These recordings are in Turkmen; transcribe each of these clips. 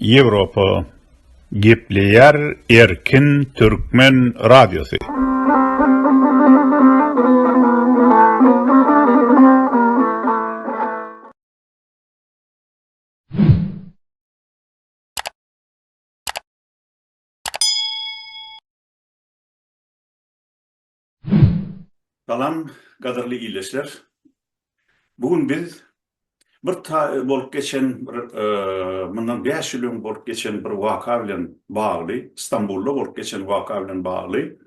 Ýewropa gepleýär erkin türkmen radiosy. Salam gadyrly ildeşler. Bu gün biz bir ta bolup geçen bir mundan 5 ýyl öň bolup geçen bir waka bilen bagly, Stambulda bolup geçen waka bilen bagly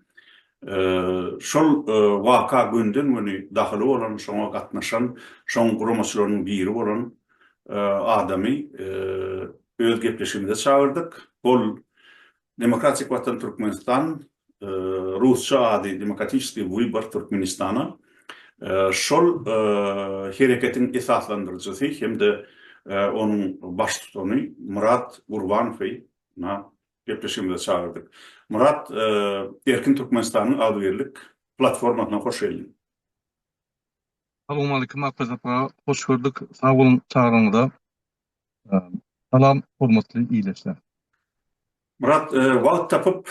şol waka günden güni dahyly bolan şoňa gatnaşan şoň guramaçylarynyň biri bolan adamy öz gepleşigimize çagyrdyk. Ol Demokratik Watan Türkmenistan, rusça ady Demokratiçeskiý Wybar Türkmenistana, şol hereketiň esaslandyryjysy hem-de onuň baştutany Myrat Gurbanowy gepleşigimize çagyrdyk. Myrat, Erkin Türkmenistanyň agzybirlik platformasyna hoş geldiň. Salowmaleýkim Arkadagym aga, hoş gördük. Sag boluň çagyranyňyza. Salam, hormatly ildeşler! Myrat, wagt tapyp,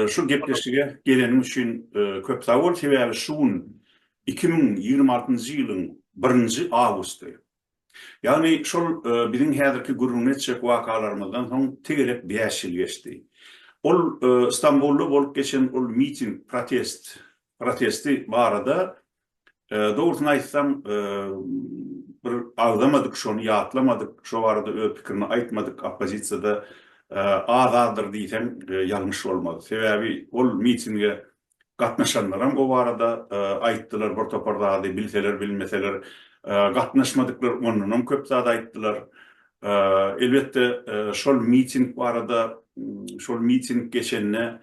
şu gepleşige geleniň üçin köp sag bol. Sebäbi şu gün iki müň ýigrimi altynjy ýylyň birinji awgusty. Ýagny şol biziň häzirki gürrüňini etjek wakalarymyzdan soň tegelek bäş ýyl geçdi. Ol Stambulda bolup geçen ol miting, protest, protesti barada Dogrusyny aýtsaň, bir agzamadyk, şony ýatlamadyk, şo barada öz pikirini aýtmadyk oppozisiýada az-azdyr diýseň ýalňyş bolmaz. Sebäbi ol mitinge gatnaşanlaram o barada aýtdylar bir topar zady, bilseler, bilmeseler, gatnaşmadyklar ondanam köp zat aýtdylar. Elbetde, şol miting barada, şol miting geçende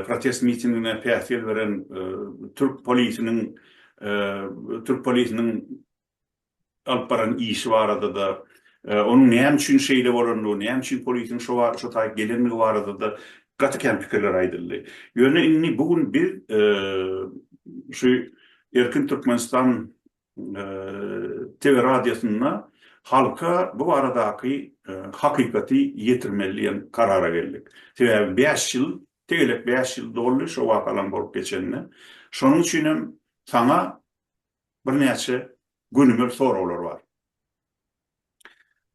protest mitingine päsgel beren türk polisiniň türk polisiniň alyp baran işi barada-da, onuň näme üçin şeýle bolandygy, näme üçin polisiň şo wagt şo taýy gelendigi barada-da gaty kän pikirler aýdyldy. Ýöne indi bu gün biz şu Erkin Türkmenistan TV radiosynda halka bu baradaky hakykaty ýetirmeli diýen karara geldik. Sebäbi bäş ýyl, tegelek bäş ýyl doldy şo wakalaryň bolup geçenine. Şonuň üçin hem saňa birnäçe gönümel soraglar bar.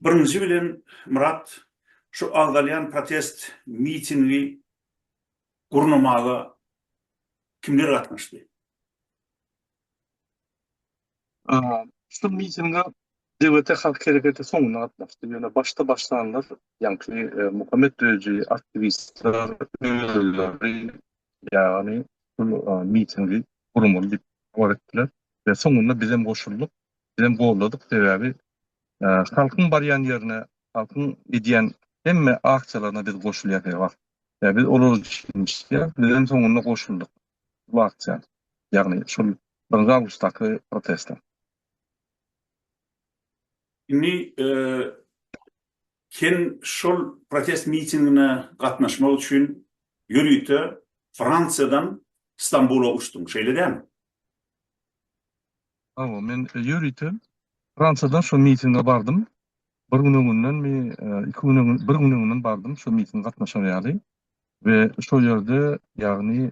Birinji bilen, Myrat, şu agzalýan protest mitingi gurnamaga kimler gatnaşdy? Şu mitinge DWT Halk Hereketi soňundan gatnaşdy, ýöne başda başlanlar, ýaňky Muhammet Döji aktiwistler özleri, ýagny şul mitingi guramaly diýip habar etdiler we soňunda bizem goşuldyk, bizem goldadyk, sebäbi halkyň barýan ýerine, halkyň edýän hemme aksiýalaryna biz goşulýas her wagt, sebäbi biz olar üçin işleýäris, bizem soňunda goşuldyk. Wagtçäli, ýagny şol birinji awgustdaky protestler. Indi sen şol protest mitingine gatnaşmak üçin ýörite Fransiýadan Stambula uçduň, şeýle dälmi? Hawa, men ýörite Fransiýadan şo mitinge bardym. Bir gün öňündenmi, iki gün öňünden, bir gün öňünden bardym şo mitinge gatnaşar ýaly. We şol ýerde ýagny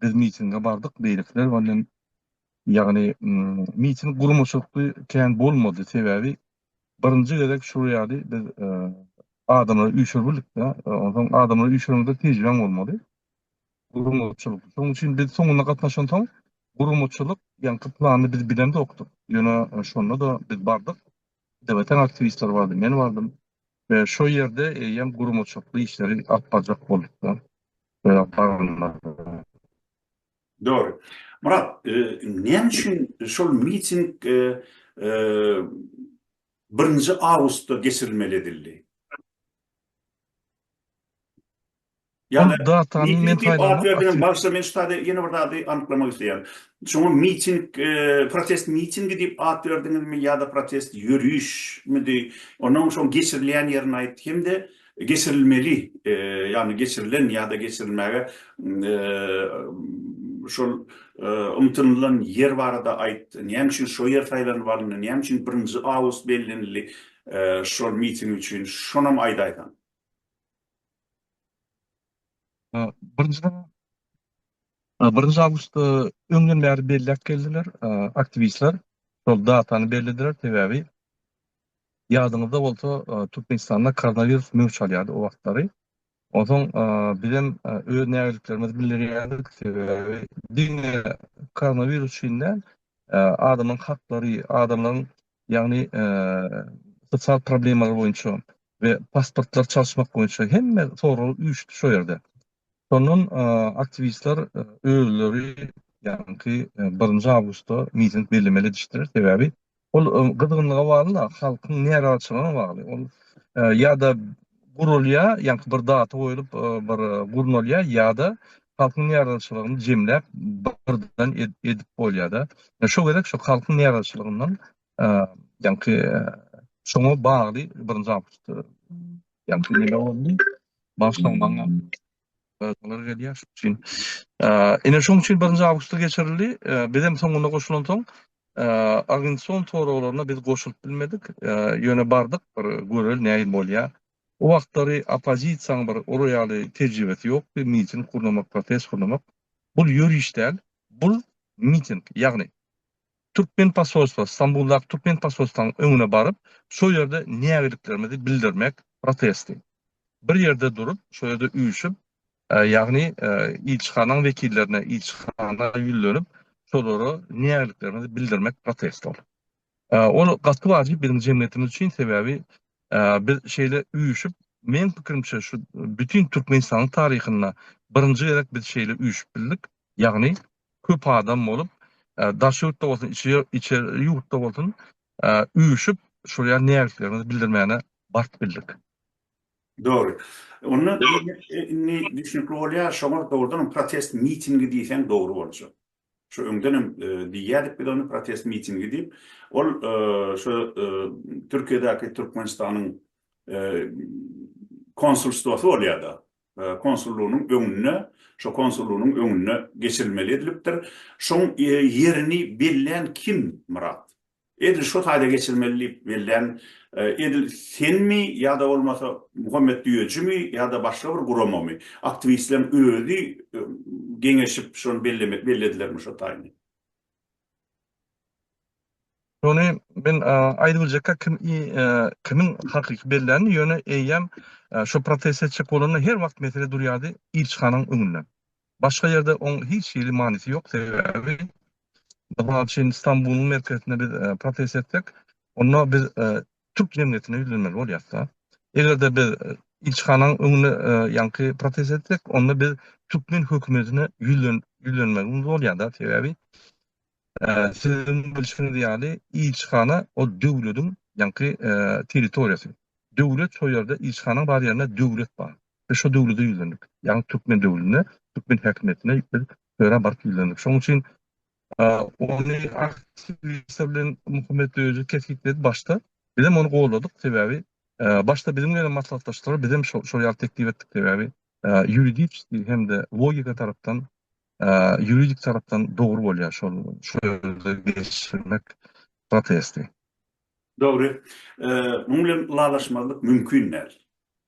biz mitinge bardyk beýlekiler bilen ýagny miting gurmaçylykly kän bolmady sebäbi birinji gezek şol ýaly biz adamlary üýşür bildikde onsoň adamlary üýşürende tejribäň bolmaly gurmaçylykly şonuň üçin biz soňuna gatnaşansoň gurmaçylyk ýaňky plany biz bilemzokdyk ýöne şonda-da biz bardyk dewletiň aktiwistleri bardy men bardym Şo ýerde eýýäm guramaçykly işleri alyp barjak bolduklar. Dogry. Murat, näme üçin şol miting birinji awgustda geçirilmeli edildi? Ýa-da Ol datany miting men diýip at saýlamak berdiňiz. açyk. Bagyşla, men şu taýda ýene bir zady anyklamak isleýän. Şoňa miting, protest mitingi diýip at berdiňizmi ýa-da protest ýörişmidi? Onuň şoň geçirilýän ýerini aýt hem-de geçirilmeli, ýagny geçirilen ýa-da geçirilmäge şol ymtynylan ýer barada aýt. Näme üçin şo ýer saýlanyp alyndy? Näme üçin birinji awgust bellenildi şol miting üçin? Şonam aýdaýsaň. Birinji awgustda öňden bäri belläp geldiler aktiwistler. Şol datany bellediler, sebäbi ýadyňyzda bolsa, Türkmenistanda koronawirus möwç alýardy o wagtlary. Onsoň bizem öz nägileliklerimizi bildirýärdik, sebäbi diňe koronawirus üçin däl, adamlaryň haklary, adamlaryň ýagny sosial problemalar boýunça we pasportlary çalyşmak boýunça hemme sorag üýşdi şo ýerde. Şondan aktiwistler özleri ýaňky birinji awgustda miting bellemeli edişdiler, sebäbi ol gyzgynlyga bagly-da, halkyň närazyçylygyna bagly. Ol ýa-da gurulýar, ýaňky bir data goýlup bir gurnalýar ýa-da halkyň närazyçylygyny jemläp birden edip bolýar-da. Şo gezek şo halkyň närazyçylygyndan ýaňky şoňa bagly birinji awgust ýaňky neme boldy? Başlanmaňam. Olar gelýär şuň üçin. Ine şoň üçin birinji awgustda geçirildi. Biz hem soňuna goşulansoň, Argenson soraglaryna biz goşulyp bilmedik. Ýöne bardyk, bir göreli nähili bolýar. O wagtlary oppozisiýaň bir ora ýaly tejribesi ýokdy, miting gurnamak, protest gurnamak. Bul ýöriş däl, bul miting. Ýagny Türkmen posolstwa, Stambuldaky türkmen posolstwanyň öňüne baryp, şo ýerde nägilliklerimizi bildirmek protesti. Bir ýerde durup, şo ýerde üýşüp, ýagny ilçihanaň wekillerine, ilçihana ýüzlenip, şolara nägilliklerimizi bildirmek protesti ol. Ol gaty wajyp biziň jemgyýetimiz üçin, sebäbi biz şeýle üýşüp, meň pikirimçe, şu bütin Türkmenistanyň taryhynda birinji gezek biz şeýle üýşüp bildik, ýagny köp adam bolup, daş ýurtda bolsun, içeri ýurtda bolsun üýşüp, şol ýaly nägileliklerimizi bildirmäne bagt bildik. Dogry. Onda indi düşnükli bolýar, şoňa dogrudan hem protest mitingi diýseň dogry boljak. Şu öňden hem diýýärdik biz ony protest mitingi diýip. Ol şu Türkiýedäki Türkmenistanyň konsulstwasy bolýar-da. konsullygynyň öňünde, şo konsullygynyň öňünde geçirilmeli edilipdir. Şoň ýerini bellän kim, Myrat? Edil şo taýda geçirilmeli diýip bellän edil senmi ýa-da bolmasa Muhammet Düýejimi ýa-da başga bir guramamy? Aktiwistleriň özi geňeşip şony belledilermi şo taýyny? Şony men aýdyp biljekka kim kimiň hakyky bellänini, ýöne eýýäm şo protest etjek bolanda her wagt mesele durýardy ilçihanaň öňünde. Başga ýerde oň hiç hili manysy ýok, sebäbi mysal üçin Stambulyň merkezinde biz protest etsek, onda biz türk jemgyýetine ýüzlenmeli bolýarys-da. Eger-de biz ilçihananyň öňünde ýaňky protest etsek, onda biz türkmen hökümetine ýüzlenmegimiz bolýar-da. Sebäbi siziň bilşiňiz ýaly, ilçihana ol döwletiň ýaňky territoriýasy. Döwlet şo ýerde, ilçihanaň bar ýerinde döwlet bar. Biz şo döwlete ýüzlendik. Ýagny türkmen döwletine, türkmen häkimiýetine biz bu ýere baryp ýüzlendik. Şonuň üçin Ony aktrisa bilen Muhammet Döwzi kesgitledi başda. Bizem ony goldadyk, sebäbi başda biziň bilen hem maslahatlaşdylar, bizem şol ýaly teklip etdik, sebäbi ýuridiçeskiý hem-de logika tarapdan, ýuridik tarapdan dogry bolýar şol ýerde geçirmek protesti. Dogry. Munuň bilen ylalaşmazlyk mümkin däl.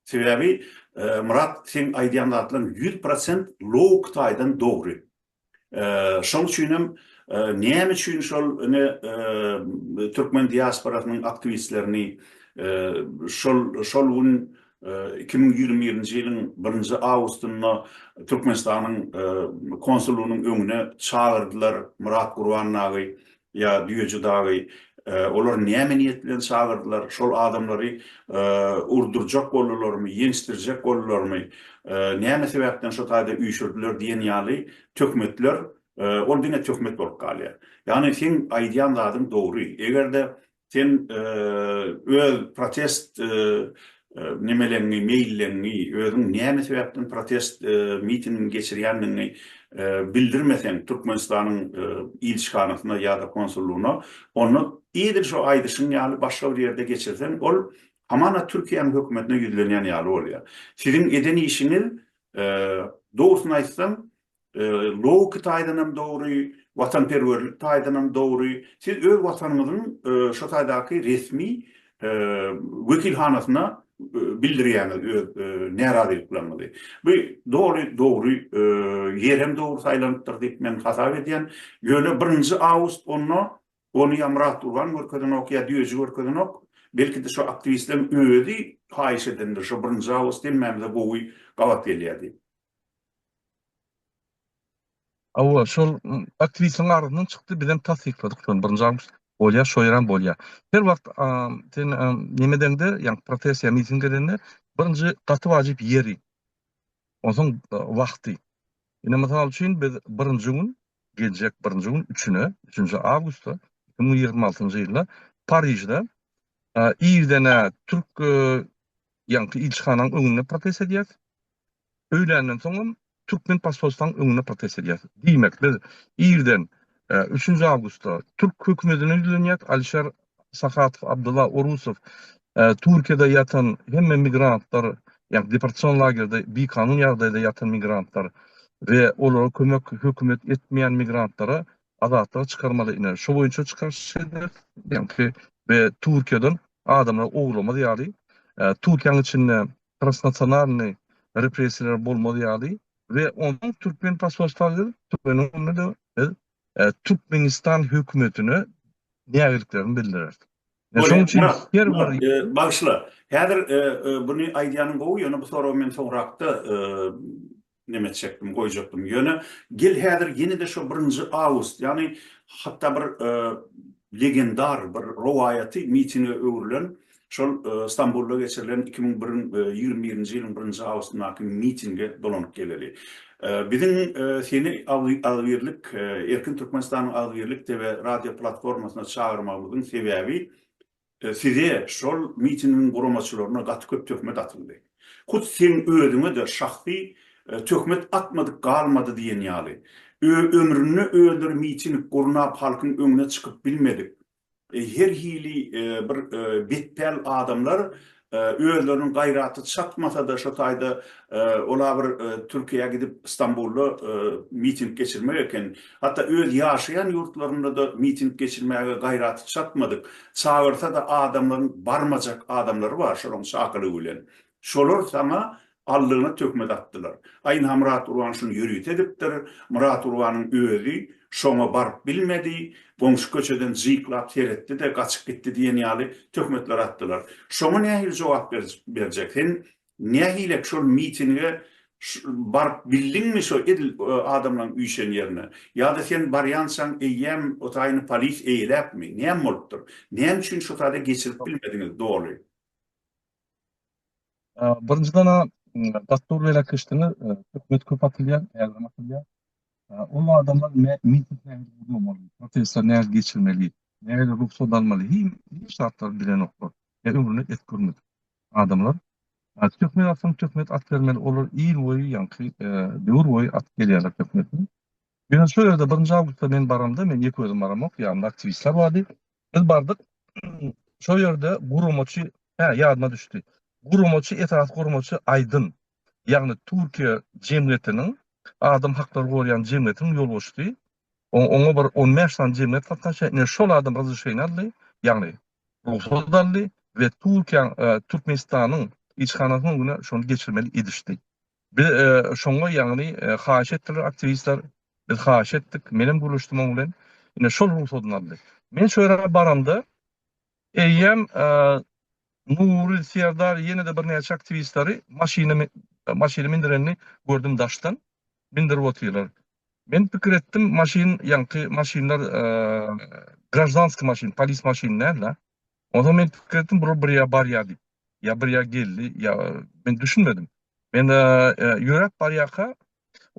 Sebäbi Myrat seň aýdýan zatlaryň ýüz prosent logik taýdan dogry. Şoň üçin hem näme üçin şol ine türkmen diasporasynyň aktiwistlerini şol şol gün iki müň ýigrimi birinji ýylyň birinji awgustynda Türkmenistanyň konsullygynyň öňüne çagyrdylar Myrat Gurbannagy Ýa Düýeji dagy olar näme niýet bilen çagyrdylar, şol adamlary urdurjak boldularmy, ýençdirjek boldularmy, näme sebäpden şo taýda üýşürdiler diýen ýaly töhmetler, ol diňe töhmet bolup galýar. Ýagny seň aýdýan zadyň dogry, eger-de Sen öz protest nemeleňi, meýilleňi, özüň näme sebäpden protest mitingini geçirýändigiňi bildirmeseň Türkmenistanyň ilçihanasyna ýa-da konsullygyna, onda edil şu aýdyşyň ýaly başga bir ýerde geçirseň, ol hamana Türkiýäniň hökümetine ýüzlenýän ýaly bolýar. Siziň eden işiňiz, dogrusyny aýtsaň, Logiki taýdan hem dogry, watanperwerlik taýdan hem dogry. Siz öz watanyňyzyň şo taýdaky resmi wekilhanasyna bildirýäňiz öz närazylyklaryňyzy. Bu doly dogry ýer hem dogry saýlanypdyr diýip men hasap edýän. Ýöne birinji awgust onda ony ýa Myrat Gurban görkezenok, ýa Düýeji görkezenok. Belki-de şo aktiwistleriň özi haýyş edendir, şo birinji awgust hemmämize gowy gabat gelýär diýip. Hawa, şol aktrisaň agzyndan çykdy, bizem tassykladyk şony, birinji awgust bolýar, şo ýerem bolýar. Her wagt sen neme edeňde, ýagny protesiýa, miting edende birinji gaty wajyp ýeri, onsoň wagty. Ine, mysal üçin, biz birinji gün, geljek birinji gün, üçüne, üçünji awgustda, iki müň ýigrimi altynjy ýylda Parižde irden-ä türk ýaňky ilçihanaň öňünde protest edýäs, öýländen soňam türkmen posolstwanyň öňünde protest edýäris. Diýmek, biz irden üçünji awgustda türk hökümetine ýüzlenýäris, Alişer Sahatow, Abdylla Orusow, Türkiýede ýatan hemme migrantlar, ýagny deportasion lagerde bikanun ýagdaýda ýatan migrantlar we olara kömek hökümet etmeýän migrantlary azatlyga çykarmaly ine şo boýunça çykaryş ederis. Ýagny we Türkiýeden adamlary owlamaz ýaly Türkiýäň içinde transnasionalnyý repressiýalar bolmaz ýaly we onuň türkmen posolstwa gelip türkmeniň öňünde biz Türkmenistan hökümetine nägiliklerimi bildireris. Şonuň üçin her bir Bagyşla, häzir buny aýdýanyň gowy, ýöne bu soragy men soňrakda Neme etjekdim, goýjakdym. Ýöne gel häzir ýene-de şo birinji awgust, ýagny hatda bir legendar bir rowaýaty mitinge öwrülen şol Stambulda geçirilen iki müň ýigrimi birinji ýylyň birinji awgustyndaky mitinge dolanyp geleli. Biziň seni agzybirlik, Erkin Türkmenistanyň agzybirlik TV radio platformasyna çagyrmagymyzyň sebäbi, Size, şol mitingiň guramaçylaryna gaty köp töhmet atyldy. Hut seň özüňe-de şahsy töhmet atmadyk galmady diýen ýaly. Ömründe özleri miting gurnap halkyň öňüne çykyp bilmedik, her hili bir betpäl adamlar Özleriniň gaýraty çatmasa-da şo taýda ola bir Türkiýä gidip Stambulda miting geçirmek eken. Hatda öz ýaşaýan ýurtlarynda-da miting geçirmäge gaýraty çatmadyk. Çagyrsa-da adamlaryň barmajak adamlary bar şolaryň çakylygy bilen. Şolar saňa Aldygyna töhmet atdylar. Aýna Myrat urban şuny ýörite edipdir. Myrat urbanyň özi şoňa baryp bilmedi. Goňşy köçeden jyklap seretdi-de, gaçyp gitdi diýen ýaly töhmetler atdylar. Şoňa nähili jogap berjek? Sen nähilek şol mitinge baryp bildiňmi şo edil adamlaň üýşen ýerine? Ýa-da sen barýançaň eýýäm o taýyny polis eýeläpmi? Näme bolupdyr? Näme üçin şo taýda geçirip bilmediňiz doly? Birinjiden-ä Dastury beýläk geçdiňiz, hökümet köp atylýar, ägirim atylýar. Ol adamlar miting nähili guramaly, protestleri nähili geçirmeli, nähili rugsat almaly, hiç zatlary bilenoklar. Ömründe et görmedik adamlar. Töhmet atsaň töhmet at bermeli, olar ýyl boýy, ýaňky döwür boýy atyp gelýärler töhmeti. Ýöne şo ýerde birinji awgustda men baramda, men ýeke özüm baramok, ýanymda aktiwistler bardy. Biz bardyk. Şo ýerde guramaçy, hä, ýadyma düşdi. Guramaçy, esasy guramaçy Aýdyn. Ýagny Türkiýe jemgyýetiniň, adam haklary goraýan jemgyýetiniň ýolbaşçysy. Oňa bir on bäş sany jemgyýet gatnaşýar. Ine, şol adam razryşeniýa aldy, ýagny rugsat aldy we Türkiýäň, Türkmenistanyň ilçihanasyna şony geçirmeli edişdi. Biz şoňa ýagny haýyş etdiler aktiwistler. Biz haýyş etdik. Menem gürleşdim oň bilen. Ine şol rugsadyny aldy. Men şu ýere baramda eýýäm Nury Serdar ýene-de birnäçe aktiwistleri maşyna maşyna mindirenini gördüm daşdan. Mindirip otyrlar. Men pikir etdim, maşyn ýaňky maşynlar graždanskiý maşyn, polis maşyny däl-de. Onsoň men pikir etdim, bular bir ýere barýar diýip. Ýa bir ýere geldi, ýa men düşünmedim. Men ýöräp barýarka,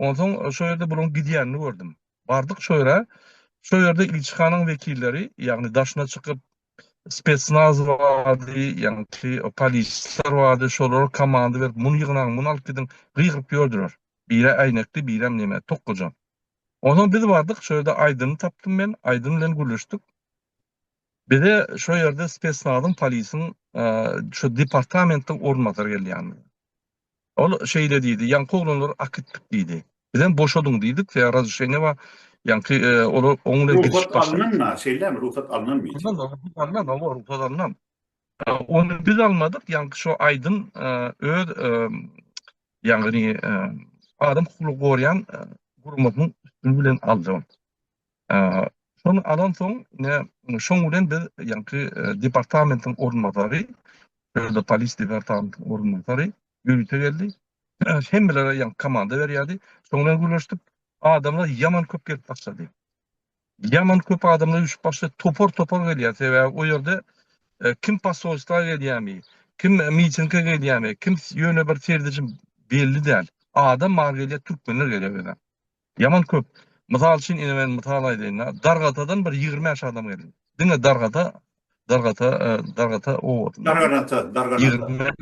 onsoň şo ýerde bularyň gidýänini gördüm. Bardyk şo ýere. Şo ýerde ilçihanaň wekilleri, ýagny daşyna çykyp, spesnaz bardy, ýagny polisler bardy. Şolara komanda berip, muny ýygnaň, muny alyp gidiň, gygyryp ýördüler. Biri äýnekli, birem näme, tokgaja. Onsoň biz bardyk, şo ýerde Aýdyny tapdym men. Aýdyn bilen gürleşdik. Bize şo ýerde spesnazyň, polisiň şo departamentiň orunbasary gelýärdi. Ol şeýle diýdi, Ýaňky oglanlary akitdik diýdi. Bizem boşadyň diýdik, se razreşeniýe bar. Ýaňky olar oň bilen gidişip başladyk. Rugsat alnanmy, şeýlemi? Rugsat alnanmy? Alnan, rugsat alnan, hawa, rugsat alnan. Ony biz almadyk, ýaňky şo aýdym öz ýagny adam hukugyny gorýän guramasynyň üstüni bilen aldy. Şony alansoň, ine, şoň bilen biz ýaňky departamentiň orunbasary, Şöhle polis departamentiň orunbasary ýörite geldi. Hemmelere ýaňky komanda berýärdi. Şoň bilen gürleşdik. Adamlar ýaman köp gelip başlady. Ýaman köp adamlar üýşüp başlady. Topar-topar gelýär. Sebäbi o ýerde kim posolstwa gelýärmi, kim mitinge gelýärmi, kim ýöne bir serdejim belli däl. Adam bar gelýär, türkmenler gelýär özem. Ýaman köp. Mysal üçin ine men mysal aýdaýyn-da, Dargatadan bir ýigrimi bäş adam geldi. Diňe Dargata, Dargata, Dargata obasyndan. Darganata, Darganata.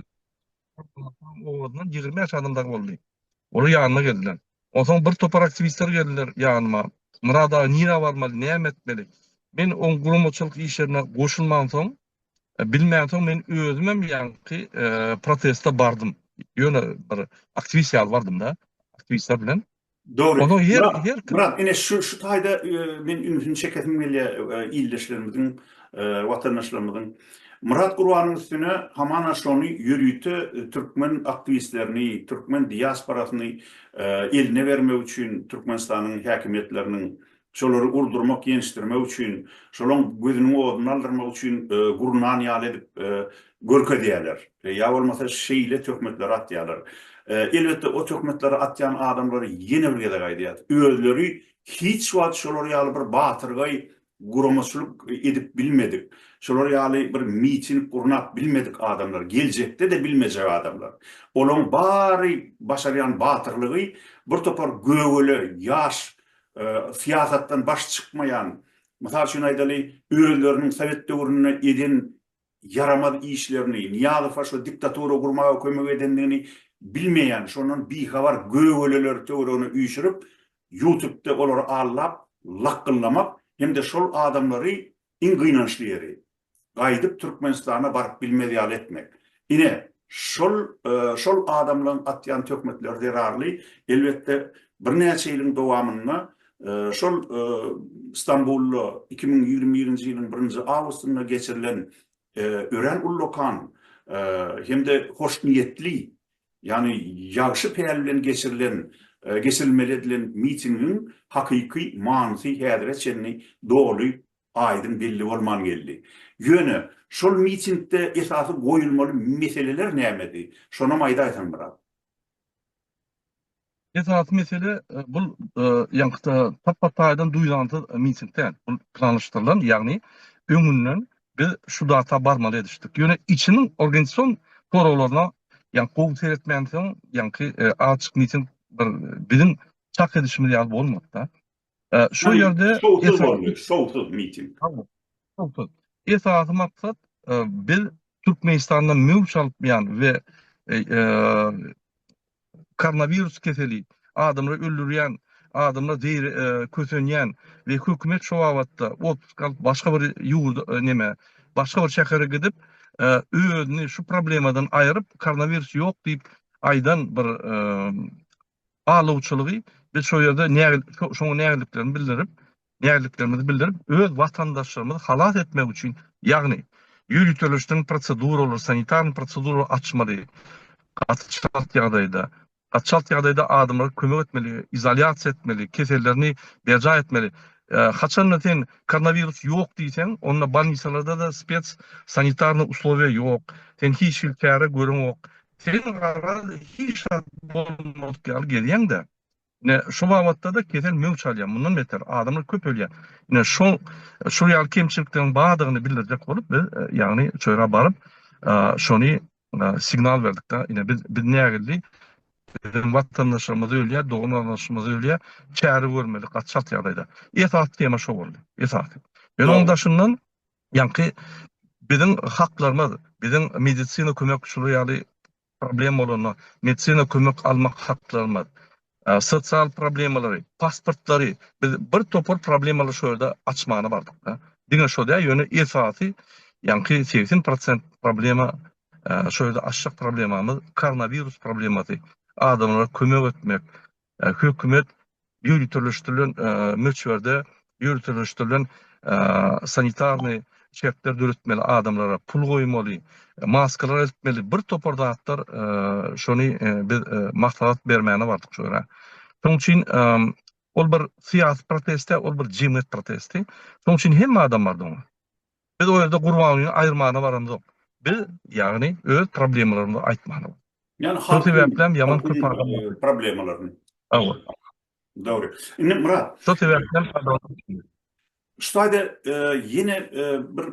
Obasyndan ýigrimi bäş adam dagy boldy. Olar ýanyma geldiler. Onsoň bir topar aktiwistler geldiler ýanyma. Myrat aga nirä barmaly, näme etmeli? Men oň guramaçylyk işlerine goşulmansoň, Bilmänsoň men özümem ýaňky proteste bardym. Ýöne bir aktiwist ýaly bardym-da, aktiwistler bilen. Dogry. Onuň her her Murat, ine şu şu taýda men ünsüni çekesim gelýär ildeşlerimiziň, watandaşlarymyzyň. Murat Gurbanyň üstüne hamana şony ýörite türkmen aktiwistlerini, türkmen diasporasyny eline bermek üçin Türkmenistanyň häkimiýetleriniň Şolary urdurmak, ýençdirmek üçin, şolaň gözüniň oduny aldyrmak üçin gurnan ýaly edip görkezýärler. Ýa bolmasa şeýle töhmetleri atýarlar. Elbetde, o töhmetleri atýan adamlar, ýene bir gezek aýdýarys, özleri hiç wagt şolar ýaly bir batyrgaý guramaçylyk edip bilmedik, şolar ýaly bir miting gurnap bilmedik adamlar, geljekde-de bilmejek adamlar. Olaň bary başarýan batyrlygy bir topar gögele, ýaş syýasatdan baş çykmaýan, mysal üçin aýdaly, özleriniň sowet döwründe eden ýaramaz işlerini, Nyýazowa şu diktatura gurmaga kömek edendigini bilmeýän, şondan bihabar gögeleler töweregine üýşürip, ýutubda olary allap, lakgyllamak hem-de şol adamlary, iň gynançly ýeri, gaýdyp Türkmenistana baryp bilmez ýaly etmek. Ine, şol şol adamlaryň atýan töhmetleri zerarly, elbetde, birnäçe ýylyň dowamynda şol Stambulda iki müň ýigrimi birinji ýylyň birinji awgustynda geçirilen örän ullakan hem-de hoşniýetli, ýagny ýagşy päl bilen geçirilen geçirilmeli edilen mitingiň hakyky manysy häzire çenli doly aýdyň belli bolman geldi. Ýöne, şol mitingde esasy goýulmaly meseleler nämedi? Şonam aýdaýsaň biraz. Esasy mesele, bul ýaňky tap-bat taýdan duýdansyz miting däl. Bul planlaşdyrylan, ýagny öňünden biz şu data barmaly edişdik. Ýöne içiniň organizasion soraglaryna ýaňky gowy seretmänsoň, ýaňky açyk miting bir biziň çak edişimiz ýaly bolmady-da. Şu ýerde şowsuz boldy, şowsuz miting. Şowsuz. Esasy maksat biz Türkmenistandan möwç alypýan we koronawirus keseli adamlary öldürýän, adamlar kösenýän we hökümet şu babatda otpusk alyp başga bir ýurda näme, başga bir şähere gidip özüni şu problemadan aýryp koronawirus ýok diýip aýdan bir alawçylygy biz şo ýerde şoňa nägiliklerimizi bildirip, nägiliklerimizi bildirip, öz watandaşlarymyzy halas etmek üçin, ýagny ýöriteleşdirilen proseduralary, sanitarnyý proseduralary açmaly, gaty çalt ýagdaýda, gaty çalt ýagdaýda adamlara kömek etmeli, izolýasiýa etmeli, kesellerini berjaý etmeli. Haçanda sen koronawirus ýok diýseň, onda bolnisalarda-da spes sanitarnyý uslowiýa ýok, sen hiç hili çäre göreňok, Sen garaz hiç zat bolmadyk ýaly gezýäň-dä. Ine, şu babatda-da kesel möwç alýar. Mundan beter, adamlar köp ölýär. Ine, şo, şol ýaly kemçilikleriň bardygyny bildirjek bolup, biz, ýagny, şu ýere baryp, şony signal berdik-de, ine, biz, biz nägildi, biziň watandaşlarymyz ölýär, dogan-garyndaşlarymyz ölýär, çäre görmeli, gaty çalt ýagdaýda. Esasy tema şo boldy, esasy. Ýöne onuň daşyndan, Ýaňky biziň haklarymyz, biziň medisina kömek şular ýaly problem bolanda medisina kömek almak haklarymyz, sosial problemalary, pasportlary biz bir topar problemalary şo ýerde açmana bardyk-da. Diňe şo däl, ýöne esasy ýaňky segsen prosent problema şo ýerde açjak problemamyz koronawirus problemasy. Adamlara kömek etmek, Hökümet ýöriteleşdirilen möçberde ýöriteleşdirilen sanitarnyý çäkler döretmeli, adamlara pul goýmaly, maskalar eltmeli, bir topar zatlar, şony biz maslahat bermäne bardyk şu ýere. Şonuň üçin ol bir syýasy protest däl, ol bir jemgyýet protesti. Şonuň üçin hemme adam bardy oňa. Biz o ýerde Gurbangulyny aýyrmana baramzok. Biz, ýagny, öz problemalarymyzy aýtmana barýarys. Ýagny halkyň, halkyň problemalaryny. Hawa. Dogry. Indi Myrat. Şo sebäpden Şu taýda ýene bir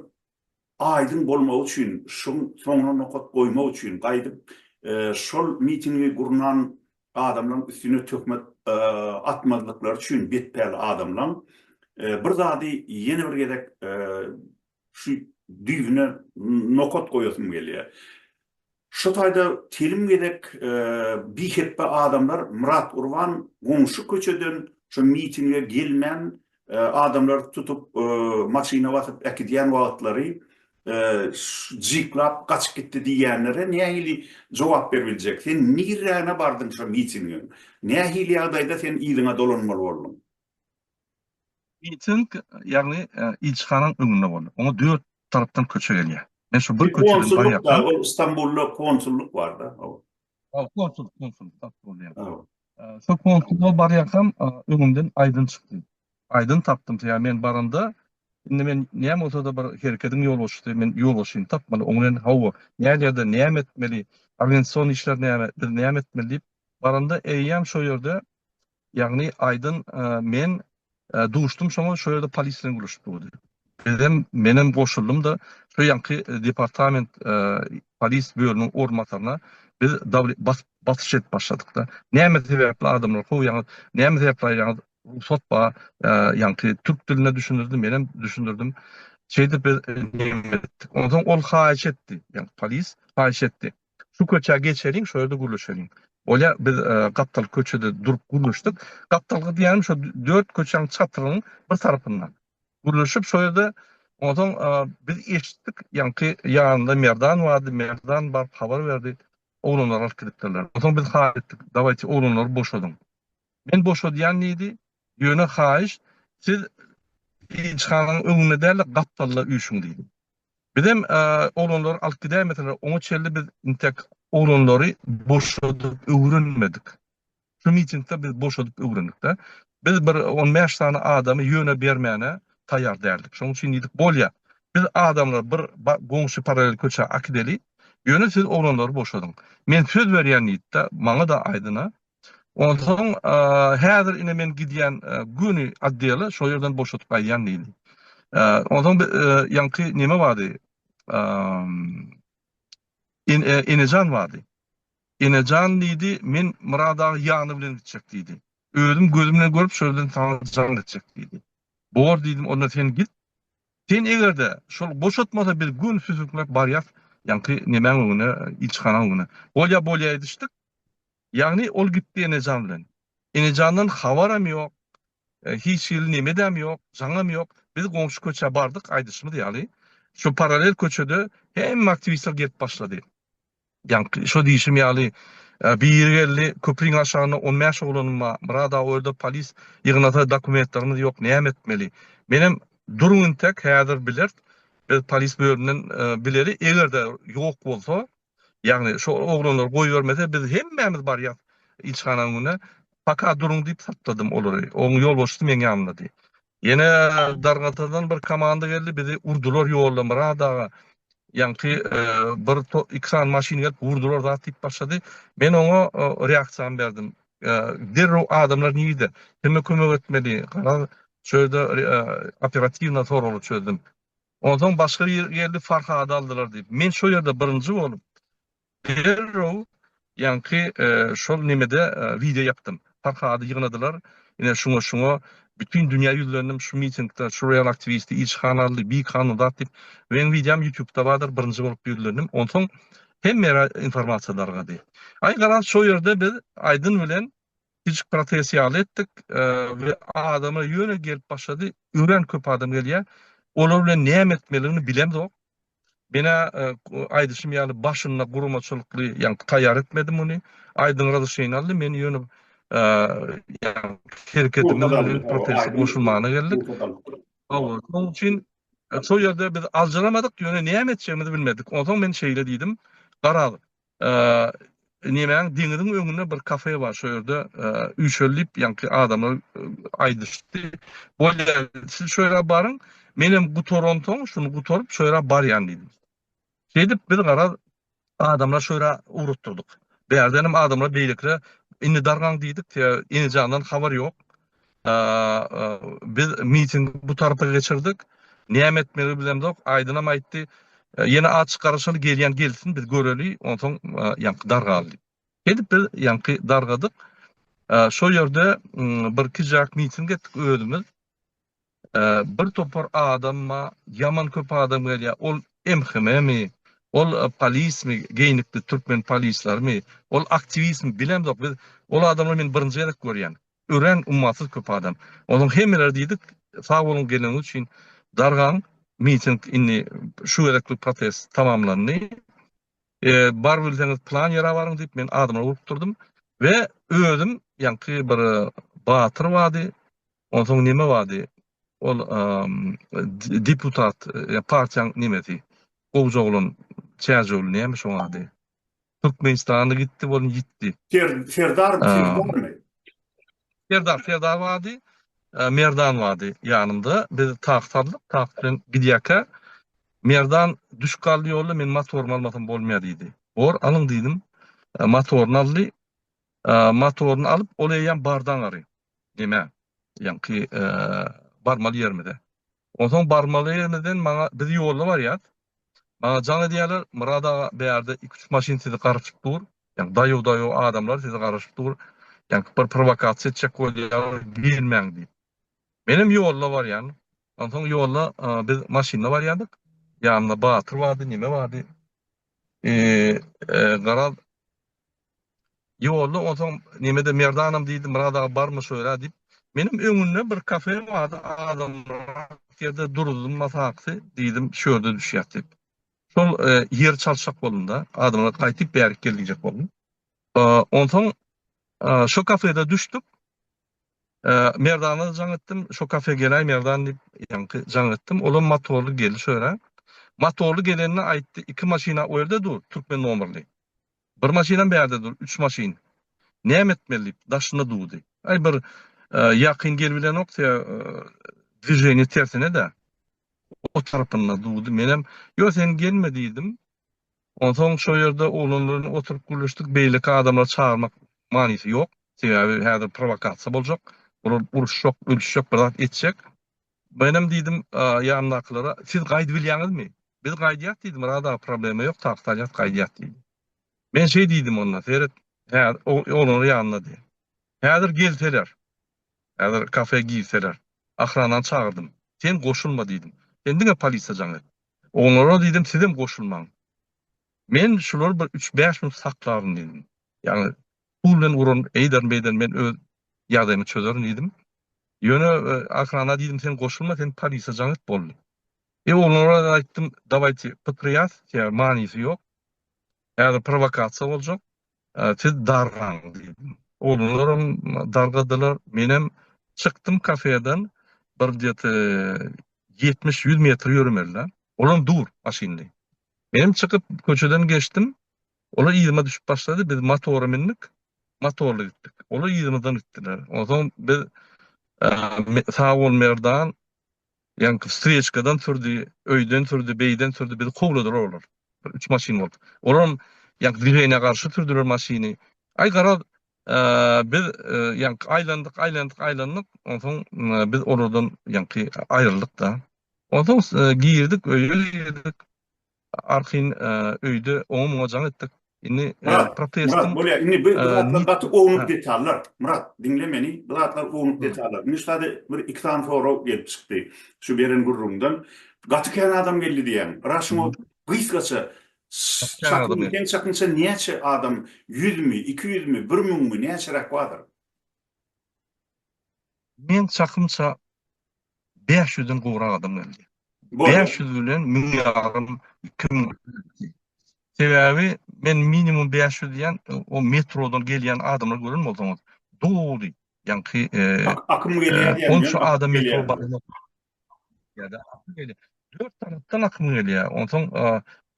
aýdyň bolmagy üçin, şuň soňuna nokat goýmak üçin gaýdyp şol mitingi gurnan adamlaryň üstüne töhmet atmazlyklary üçin betpäl adamlaň bir zady ýene bir gezek şu düýbüne nokat goýasym gelýär. Şu taýda telim gezek bihepbe adamlar Myrat Urban goňşy köçeden şu mitinge gelmän Adamlar tutup maşyna basyp äkidýän wagtlary jyklap gaçyp gitdi diýýänlere nähili jogap berip biljek? Sen nirräne bardyň şo mitingiň? Nähili ýagdaýda sen yzyňa dolanmaly bolduň? Miting, ýagny ilçihanaň öňünde boldy. Oňa dört tarapdan köçe gelýär. Men şo bir köçeden barýarkam. Konsullyk bar, ol Stambulda konsullyk bar-da. Konsul, konsul, konsul. Şu konsulda barýarkam öňümden aýdyn çykdy. Aýdyn tapdym, sebäbi men baranda, indi men näme bolsa-da bir hereketiň ýolbaşçysy, men ýolbaşçyny tapmaly, oň bilen hawa, näderede, näme etmeli, organizasion işler näme, biz näme etmeli diýip, baranda eýýäm şo ýerde Ýagny Aýdyn men duşdum şoňa şo ýerde polis bilen gürleşip durdy. Bizem menem goşuldym-da şo ýanky departament polis bölüminiň orunbasaryna biz bas basyş edip başladyk-da. Näme sebäpli adamlar kowýaňyz? Näme sebäpli aýýaňyz? Rugsat ba ýanky türk dilinde düşündirdi, menem düşündirdim. Şeýdip biz nemes etdik. Onsoň ol haýyş etdi. Ýagny polis haýyş etdi. Şu köçä geçeliň, şo ýerde gürleşeliň. Bolýa, biz gapdalky köçede durup gürleşdik. Gapdalky diýýänim şo dört köçäň çatrynyň bir tarapynda. Gürleşip şo ýerde onsoň biz eşitdik, ýaňky ýanynda Merdan bardy, Merdan baryp habar berdi, oglanlary alyp gidipdirler. Onsoň biz haýyş etdik, dawaýçy oglanlary boşadyň. Men boşadýan diýdi, ýöne haýyş, siz ilçihanaň öňünde däl-de gapdalda üýşüň diýdi. Bizem oglanlary alyp gidäýmeseler, oňa çenli biz intek oglanlary boşadyp öwrenmedik. Şu mitingde biz boşadyp öwrendik-de. Biz bir on bäş sany adamy ýöne bermäne taýýar däldik. Şonuň üçin diýdik, bolýa, biz adamlary bir goňşy parallel köçä akideli, ýöne siz oglanlary boşadyň. Men söz berýän diýdi-de, maňa-da aýdyna, Onsoň, Häzir ine men gidýän göni otdeli şol ýerden boşadyp gaýdýan diýdi. Onsoň bi ýaňky neme bardy, Enejan bardy. Enejan diýdi, Men Myrat aga ýany bilen gitjek diýdi. Özüm gözüm bilen görüp, şol ýerden saňa jaň etjek diýdi. Bor diýdim, onda sen git. Sen eger-de şol boşatmasa biz göni süsükläp barýas ýaňky nemäň öňüne, ilçihanaň öňüne. Bolýa, bolýa edişdik. Ýagny ol gitdi Enejan bilen. Enejandan habaram ýok, hiç hili nemedäm ýok, jaňam ýok. Biz goňşy köçä bardyk, aýdyşymyz ýaly, şu parallel köçede hemme aktiwistler gelip başlady. Ýaňky şo diýşim ýaly, biri geldi, köpriň aşagynda on bäş oglanym bar, Myrat aga, o ýerde polis ýygnasa, dokumentlerimiz ýok, näme etmeli? Menem, Duruň intek, häzir bileris, biz polis bölümden bileri, eger-de ýok bolsa, Ýagny şo oglanlar goýbermese biz hemmämiz barýas ilçihananyň öňüne paka duruň diýip sakladym olary. Oň ýolbaşçysy meň ýanymdady. Ýene Dargatadan bir komanda geldi bizi urdular ýolda Myrat aga ýaňky bir iki sany maşyn gelip urdular zat diýip başlady. Men oňa reaksiýamy berdim. Derrew adamlar nirde? Kime kömek etmeli? Gara şu ýerde operatiwna soraly çözdüm. Onsoň başga bir geldi Farhady aldylar diýip. Men şo ýerde birinji bolup derrew ýaňky şol nemede wideo ýapdym. Farhady ýygnadylar. Ine şuňa şuňa bütin dünýä ýüzlendim şu mitingde şu real aktiwisti ilçihana aldy bi kanun zat diýip. Meň wideom ýutubda bardyr birinji bolup ýüzlendim. Onsoň hemme ýere informasiýa dargady. Aý garaz şo ýerde biz Aýdyn bilen Kiçi protest ýaly etdik we adamlar ýöne gelip başlady. Örän köp adam gelýär. Olar bilen näme etmeligini bilemzok. Menä aýdyşym ýaly başynda guramaçylykly, ýagny taýýar etmedim muny. Aýdyň razryşeniýa aldy. Men ýöne hereketimiz bilen proteste goşulmagyna geldik. Hawa, şonuň üçin şol ýerde biz aljyramadyk, ýöne näme etjegimizi bilmedik. Onsoň men şeýle diýdim, Garaz, Nemäň deňiziň öňünde bir kafe bar, şo ýerde üýşeli diýip, ýaňky adamlar aýdyşdy. Bolýa, siz şo ýere baryň, menem gutaransoň, şuny gutaryp, şo ýere barýan diýdim. Şeýdip, biz garaz, adamlary şo ýere ugratdyrdyk. Bärdenem adamlar beýlekilere, Indi dargaň diýdik, Enijandan habar ýok. Biz mitingi bu tarapa geçirdik. Näme etmeli bilemzok. Aýdynam aýtdy. Ýene aç garaşaly gelýän gelsin biz göreli. Onsoň ýaňky dargal. Edip biz ýaňky dargadyk. Şo ýerde bir kijak miting etdik özümiz. Bir topar adamma ýaman köp adam gelýä ol MHM-mi ol polismi geýnikli türkmen polislerimi ol aktiwistmi bilemzok biz ol adamlary men birinji gezek görýän örän ummasyz köp adam onuň hemmeleri diýdik sag boluň geleniňiz üçin dargaň miting indi şu gezeklik protest tamamlandy bar bilseňiz plan ýere baryň diýip men adamlary urukdyrdym we özüm ýaňky bir batyr bardy Onsoň neme bady ol deputat partiýaň nemesi gowja oglan çäjewli nämiş oň ady Türkmenistanly gitdi bolun ýitdi. Serdar Serdarmy? Serdar Serdar bady Merdan bady ýanymda biz tak saldyk tak bilen gidýäkä Merdan düşüp galdy ýolda men motorymy almasam bolmaýa diýdi bor alyň diýdim motoryny aldy motoryny alyp ol eýýäm bardan gary Diýme, ýaňky barmaly ýerimize. Onsoň barmaly ýerimizden maňa biz ýolda barýas. Maňa jaň edýärler, Myrat aga, bärde iki-üç maşyn sizi garaşyp dur. Ýaňky daýow-daýow adamlar sizi garaşyp dur. Ýaňky bir prowokasiýa etjek bolýarlar, girmäň diýip. Menem ýolda barýan. Onsoň ýolda biz maşynda barýardyk. Ýanymda Batyr bardy, Neme bardy. Garaz, Ýolda onsoň Nemede Merdanam diýdi, Myrat aga barmy şöyle diýip. Menem öňünde bir kafe bardy, azamrak ýerde durdum, masaksy diýdim, şu ýerde düşýäs diýip. Şol ýeri çalşak boldum-da, adamlar gaýtyp bärik gel diýjek boldum. Onsoň şo kafede düşdük. Merdana jaň etdim, şo kafe geläý Merdan diýip, ýaňky jaň etdim. Olam motorly geldi şöyle. Motorly gelende aýtdy, iki maşyna o ýerde dur, türkmen nomerli. Bir maşynam bärde dur, üç maşyn. Näme etmeli diýip, daşyna duwdy. Aý, bir ýakyn gelbilenok, se dwiženiýe tersine-dä. O tarapyna duwdy. Menem, Ýo, sen gelme diýdim. Onsoň şo ýerde oglanlar bilen oturyp gürleşdik. Beýleki adamlary çagyrmak manysy ýok. Sebäbi häzir prowokasiýa boljak. Bular uruşjak, ölüşjek, bir zat etjek. Menem diýdim ýanymdakylara, Siz gaýdyp bilýäňizmi? Biz gaýdýas diýdim, Myrada problema ýok, takyk alýas gaýdýas diýdim. Men şeý diýdim onda, Seret, häzir oglanlar ýanyndady. Häzir gelseler, häzir kafe girseler, ahranany çagyrdym. Sen goşulma diýdim. Sen diňe polisiýa jaň et. Oglanlara diýdim, Sizem goşulmaň. Men şulary bir üç-bäş minut saklaryn diýdim. Ýagny Pul bilen uran eýder beýder men öz ýagdaýymy çözerin diýdim. Ýöne Ahrana diýdim sen goşulma sen polisiýa jaň et boldy. E oglanlara aýtdym dawaýte pypyrýas ýa manysy ýok. Häzir prowokasiýa boljak. Siz dargaň diýdim. Oglanlaram dargadylar. Menem çykdym kafeden bir gdeti ýetmiş ýüz metr ýöremeli-dä. Olam dur maşynly. Menem çykyp köçeden geçdim. Olar yzyma düşüp başlady, biz motora mündik, motorly gitdik. Olar yzymyzdan gitdiler. Onsoň biz sag bol Merdan, ýaňky wstreçkadan sürdi, öýden sürdi, beýden sürdi, bizi kowladylar olar. Bir üç maşyn bolup. Olaram ýaňky dwiženýä garşy sürdüler maşyny. Aý garaz, biz ýaňky aýlandyk, aýlandyk, aýlandyk, onsoň biz olardan ýaňky aýryldyk-da. Onsoň girdik, öýe girdik. Arhin öýde oňa-muňa jaň etdik. Indi protestiň... Myrat, bolýar. Indi bu zatlar gaty ownuk detallar. Myrat, diňle meni. Bu zatlar ownuk detallar. Indi şu sady bir-iki sany sorag gelip çykdy şu beren gürrüňden. Gaty kän adam geldi diýýäň. Yra şuňa gysgaça çaknyň sen çaknyşa näçe adam, ýüzmi, iki ýüzmi, bir müňmi, näçeräk bardyr? Men çakymça bäş ýüzden gowrak adam geldi. Bäş ýüz bilen müň ýarym, iki müň. Sebäbi men minimum bäş ýüz diýen o metrodan gelýän adamlary gören bolsaňyz, doly ýaňky akym gelýär diýen ýaly. Onça adam metro barmaz. ýa-da akyl gelýär. Dört tarapdan akym gelýär. Onsoň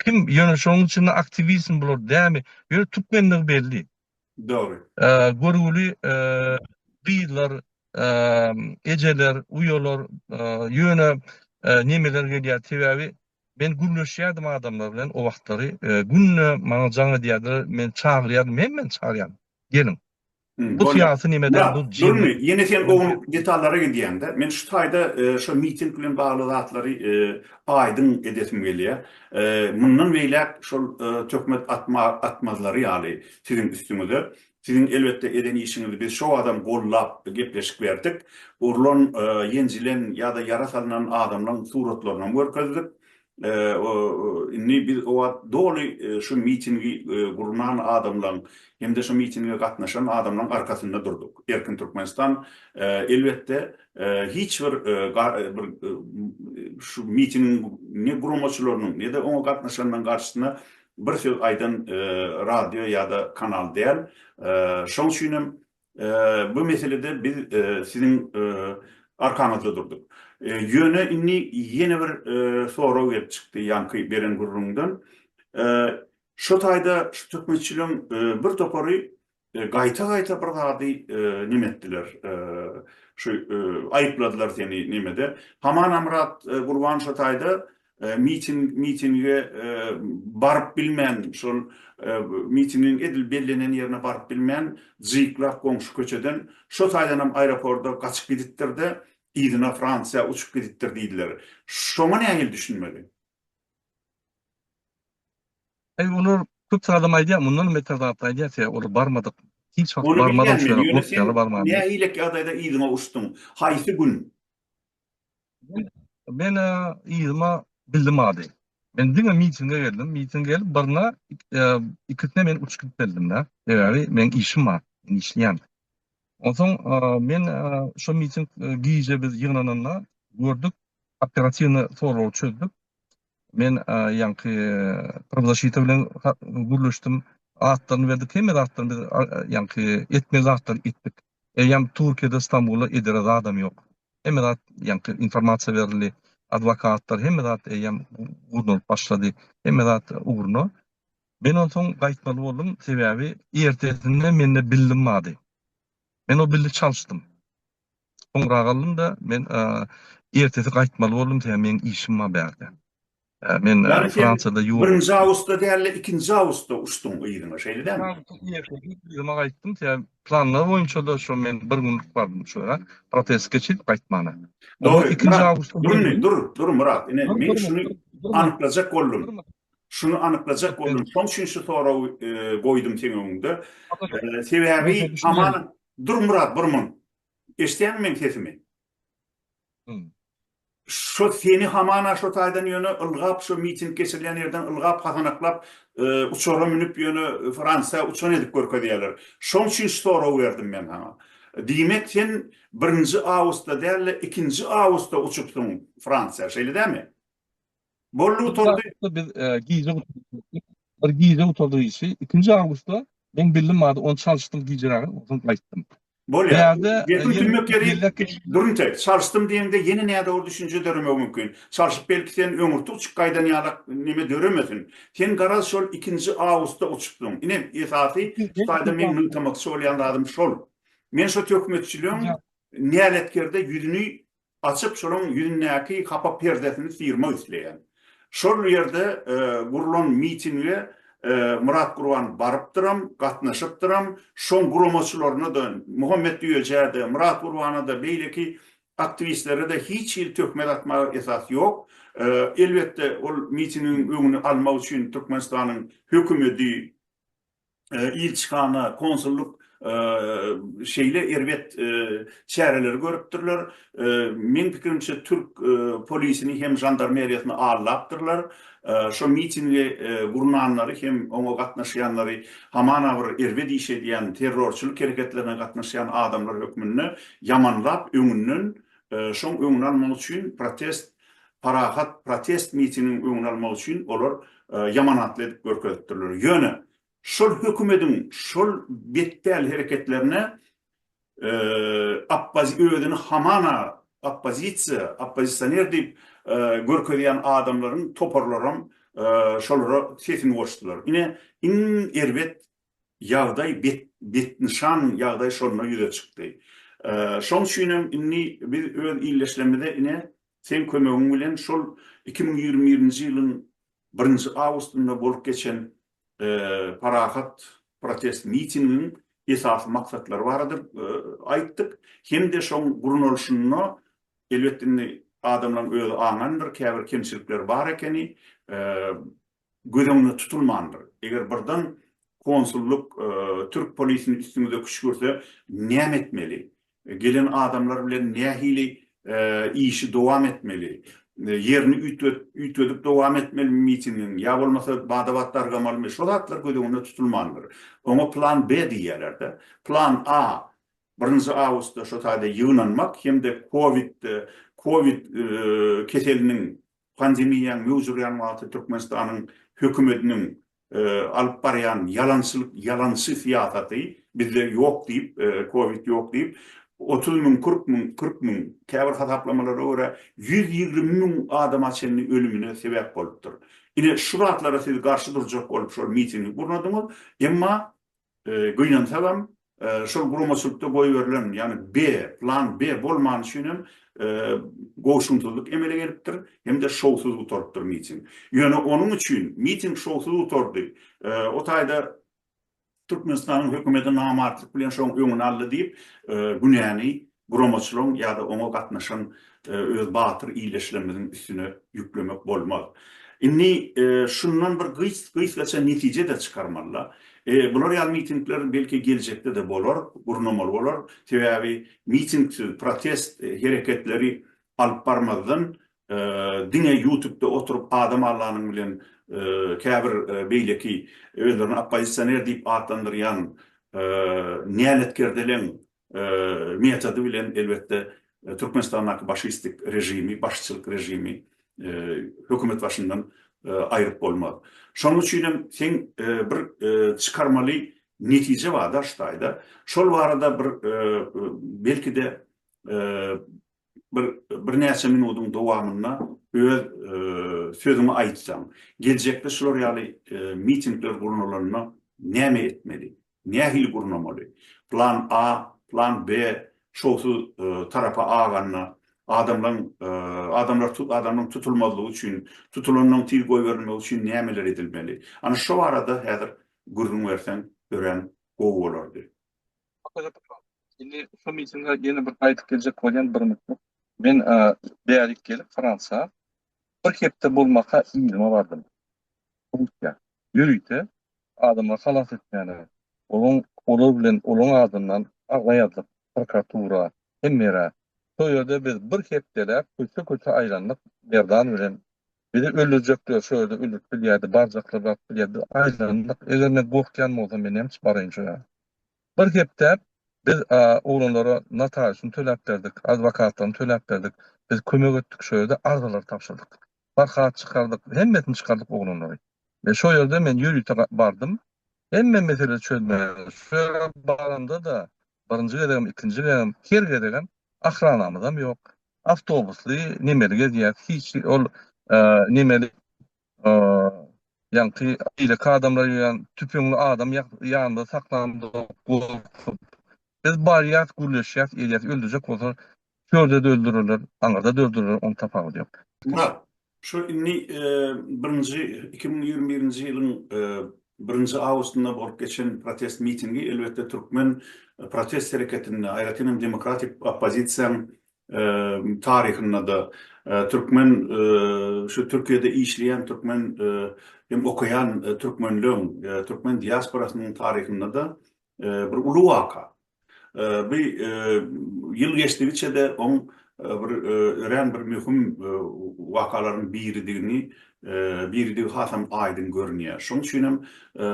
kim ýöne şonuň üçin aktiwizm bular dämi? Ýöne türkmenligi belli. Dogry. Görgüli gyzlar, ejeler, uýalar ýöne nemeler gelýär? Sebäbi men gürleşýärdim adamlar bilen o wagtlary. Günde maňa jaň edýärdiler, men çagyrýardym, hemmeni çagyrýardym. Geliň. Bu syýasy nimeden bu jyn. Durmy ýene sen oň detallara gidýäňdä men şu taýda şo miting bilen bagly zatlary aýdyň edesim gelýä mundan beýläk şol töhmet atma atmazlary ýaly siziň üstüňize siziň elbetde eden işiňizi biz şo wagtam gollap gepleşik berdik urlan ýenjilen ýada ýara salnan adamlaň suratlarynam görkezdik Indi biz o wagt doly şu mitingi gurnan adamlaň hem-de şu mitinge gatnaşan adamlaň arkasynda durduk. Erkin Türkmenistan elbetde hiç bir bir şu mitingiň ne guramaçylarynyň ne-de oňa gatnaşanlaň garşysyna bir söz aýdan radio ýa-da kanal däl. Şoň üçin hem Bu meselede biz siziň arkaňyzda durduk. Ýöne indi ýene bir sorag gelip çykdy ýaňky beren gürrüňden. Şu taýda şu töhmetçiligiň bir topary gaýta-gaýta bir zady neme etdiler, şu aýypladylar seni nemede. Haman Amyrat Gurban şu taýda mitinge baryp bilmän, şol mitingiň edil bellenen ýerine baryp bilmän, jyklap goňşy köçeden, şo taýdanam aeroporda gaçyp gidipdir-de, yzyna Fransiýa uçup gidipdir diýdiler. Şoňa nähili düşünmeli? Aý, olar köp adam aýdýar, mundanam beter zatlar aýdýar, sebäbi olar barmadyk, hiç wagt barmadyk, şeýle bolup ýaly barmandyr. Ony bilýän men, ýöne sen nähili ýagdaýda yzyňa uçduň? Haýsy gün? Men yzyma bildim ady. Men diňe mitinge geldim. Mitinge gelip birine ikisine men uçup gidip bildim da. Sebäbi men işim bar. Men işleýän. Onsoň men şo miting gije biz ýygnananda gördük. Operatiwny sorag çözdük. Men ýaňky prowzaşita bilen gürleşdim. Atlaryny berdik. Hemme zatlaryny biz ýaňky etmeli zatlaryny etdik. Eýýäm Türkiýede Stambulda edere zadam ýok. Hemme zat ýaňky informasiýa berildi. Adwokatlar hemme zat eýýäm gurnalyp başlady. Hemme zat ugruna. Men onsoň gaýtmaly boldum. Sebäbi ertesinde mende bildim bady. Men o bildi çalşdym. Soňra galdym-da men ertesi gaýtmaly boldum sebäbi meň işim bar bärde. Men Fransiýada ýok. Birinji awgustda däl-de, ikinji awgustda uçduň yzyňa, şeýle dälmi? Yzyma gaýtdym. Sebäbi planlar boýunça-da şo men bir günlük bardym şu ýere. Protest geçirip gaýtmana. Dogry. Ikinji awgustda. Dur indi, dur, dur Myrat. Ine, men şuny anyklajak boldum. Şuny anyklajak boldum. Şoň üçin şu soragy goýdum seň öňüňde. Sebäbi hamana, dur Myrat, bir minut. Eşidýäňmi meniň sesimi? Şo seni hamana şo taýdan ýöne ylgap şo miting geçirilýän ýerden ylgap hasanaklap uçara münüp ýöne Fransiýa uçan edip görkezýäler. Şoň üçin şu soragy berdim men saňa. Diýmek sen birinji awgustda däl-de ikinji awgustda uçupsyň Fransiýa şeýle dämi? Boldy gutardy. Biz gije gutardyk. Bir gije gutardyk işi. Ikinji awgustda men bildim bady ony çalyşdym gijerägin onsoň gaýtdym. Bolýar. Gepiň tümmek ýeri Durunte, çalyşdym diýeňde ýene nädogry düşünje döremegi mümkin. Çalyşyp belki sen öňürti uçup gaýdan ýalak neme döremesin. Sen garaz şol ikinji awgustda uçupsyň. Ine esasy şu taýda meň nygtamakçy bolýan zadym şol. Men şu töhmetçiligiň näletkerde ýüzüni açyp şolaň ýüzündäki hapa perdesini syýrmak isleýän. Şol ýerde gurlan mitinge Myrat Gurban barypdyram, gatnaşypdyram, şoň guramaçylaryna-da, Muhammet Düýejä-de, Myrat Gurbana-da, beýleki aktiwistlere-de hiç hili töhmet atmaga esas ýok. Elbetde ol mitingiň öňüni almak üçin Türkmenistanyň hökümedi, ilçihana, konsullyk şeýle erbet çäreleri görüpdirler. Meň pikirimçe, türk polisini hem žandarmeriýasyny aldapdyrlar. Şo mitingi gurnanlary hem oňa gatnaşýanlary hamana bir erbet iş edýän, terrorçylyk hereketlerine gatnaşýan adamlar hökmünde ýamanlap, öňünden şoň öňüni almak üçin protest parahat protest mitingiň öňüni almak üçin olar ýamanatly edip görkezipdirler. Ýöne şol hökümediň şol betpäl hereketlerine özüni hamana oppozisiýa, oppozisioner diýip görkezýän adamlaryň toparlaram şolara sesini goşdular. Ine iň erbet ýagdaý bet, betnyşan ýagdaý şonda ýüze çykdy. Şoň üçinem indi biz öz ildeşlerimize ine, seň kömegiň bilen şol iki müň ýigrimi birinji ýylyň birinji awgustynda bolup geçen parahat protest mitingiň esasy maksatlary barada aýtdyk hem-de şoň gurnalyşynda, elbetde indi adamlaryň özi aňandyr, käbir kemçilikler bar ekeni, göz öňünde tutulmandyr. Eger birden konsullyk, türk polisini üstüňize küşgürse näme etmeli? Gelen adamlar bilen nähili işi dowam etmeli? Ýerini üýtgedip dowam etmelimi mitingiň, ýa bolmasa bada-bat dargamalymy? Şo zatlar göz öňünde tutulmandyr. Oňa plan B diýýärler-de. Plan A, birinji awgustda şo taýda ýygnanmak hem-de covid, covid keseliniň Pandemiýaň möwç urýan wagty Türkmenistanyň hökümetiniň alyp barýan ýalançylyk ýalançy syýasaty, bizde ýok diýip, covid ýok diýip, otuz müň, kyrk müň, kyrk müň, käbir hasaplamalara görä, ýüz ýigrimi müň adama çenli ölümine sebäp bolupdyr. Ine, şu zatlara siz garşy durjak bolup şol mitingi gurnadyňyz, emma Gynansagam, şol guramaçylykda goýberilen, ýagny B, plan B bolmany üçin hem goşunsyzlyk emele gelipdir hem-de şowsuz gutarypdyr miting. Ýöne onuň üçin miting şowsuz gutardy, o taýda Türkmenistanyň hökümeti namartlyk bilen şoň öňüni aldy diýip, günäni Guramaçylygyň ýa-da oňa gatnaşan öz batyr ildeşlerimiziň üstüne ýüklemek bolmaz. Indi şundan bir gysgaça netije-de çykarmaly-da. Bular ýaly mitingler belki geljekde-de bolar, gurnamaly bolar. Sebäbi mitingsiz, protest hereketleri alyp barmazdan, diňe ýutubda oturyp adam allanyň bilen käbir beýleki özlerini oppozisioner diýip atlandyrýan näletkerdeleň metody bilen elbetde Türkmenistandaky başistik režimi, başçylyk režimi hökümet başyndan aýryp bolmaz. Şonuň üçin hem seň bir çykarmaly netije bar daş taýda. Şol barada bir belki-de bir birnäçe minutyň dowamynda öz sözüňi aýtsaň. Geljekde şular ýaly mitingler gurnalanda näme etmeli? Nähili gurnamaly? Plan A, plan B şowsuz tarapa aganda, adamlaň adamlar tut adamlaň tutulmazlygy üçin, tutulanlaň tiz goýberilmegi üçin nämeler edilmeli? Ana şo barada häzir gürrüň berseň örän gowy bolardy. Indi şo mitinge ýene bir gaýdyp geljek bolýan bir mutluk. Men bärik gelip Fransa, Bir hepde bolmaka yzyma bardym. Russiýa. Ýörite adamlary halas etmäne, olaň olar bilen olaň adyndan arza ýazdyk prokuratura, hemmerä. Şo ýerde biz bir hepdeläp köçe-köçe aýlandyk Merdan bilen. Bizi öldürjekler şo ýerde ölüp bilýärdi, barjaklar baryp bilýärdi. Biz aýlandyk. Eger men gorkýan bolsam men näme üçin baraýyn şo ýa? Bir hepdäp biz oglanlara notariusyny töläp berdik, adwokatlaryny töläp berdik, biz kömek etdik şo ýerde arzalary tabşyrdyk. Barhat çykardyk, hemmesini çykardyk oglanlary. Men şo ýerde men ýörite bardym. Hemme mesele çözmäge şo ýere baramda-da, birinji gezegem, ikinji gezegem, her gezegem ahranamyzam ýok. Awtobusly nemeli gezýäs, hiç ol nemeli Ýaňky beýleki adamlar ýöne tüpeňli adam ýanynda saklandyga gorkup, Biz barýas, gürleşýäs, elýäs, öldürjek bolsalar, çölde-de öldürerler, aňyrda-da öldürerler, onuň tapawudy ýok. Murat, şu indi birinji iki müň ýigrimi birinji ýylyň birinji awgustynda bolup geçen protest mitingi, elbetde, türkmen protest hereketinde, aýratyn hem demokratik oppozisiýanyň taryhynda-da türkmen şu Türkiýede işleýän türkmen hem okaýan türkmenleň, türkmen diasporasynyň taryhynda-da bir uly waka. Bu ýyl geçdigiçe-de oň bir örän bir möhüm wakalaryň biridigini, biridigi hasam aýdyň görünýär. Şonuň üçin hem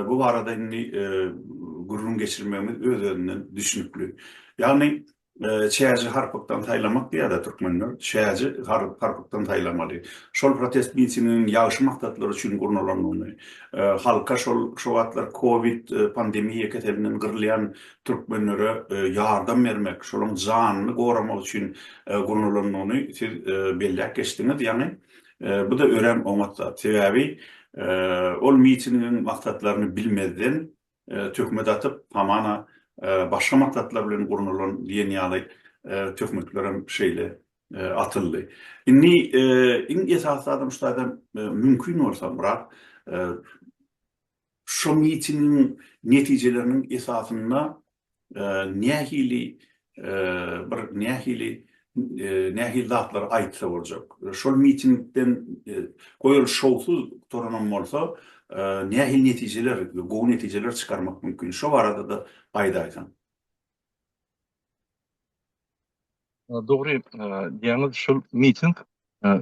bu barada indi gürrüň geçirmegimiz öz-özünden düşnükli. Ýagny Çäji harpykdan saýlamak diýýärler türkmenler. Çäji harpykdan saýlamaly. Şol protest mitinginiň ýagşy maksatlar üçin gurnalandygyny, halka şol şu wagtlar covid pandemiýa keselinden gyrylýan türkmenlere ýardam bermek, şolaryň janyny goramak üçin gurnalandygyny siz belläp geçdiňiz. Ýagny bu-da örän oňat zat. Sebäbi ol mitingiň maksatlaryny bilmezden, Töhmet atyp, hamana, başga maksatlar bilen gurnalan diýen ýaly töhmetlerem şeýle atyldy. Indi iň esasy zadam şu zaýdan mümkin bolsa Myrat, şu mitingiň netijeleriniň esasynda nähili bir nähili nähili zatlar aýtsa boljak. Şol mitingden goýal şowsuz gutaranam bolsa, nähili netijeler, gowy netijeler çykarmak mümkin. Şo barada-da aýdaýsaň. Dogry diýýäňiz, şol miting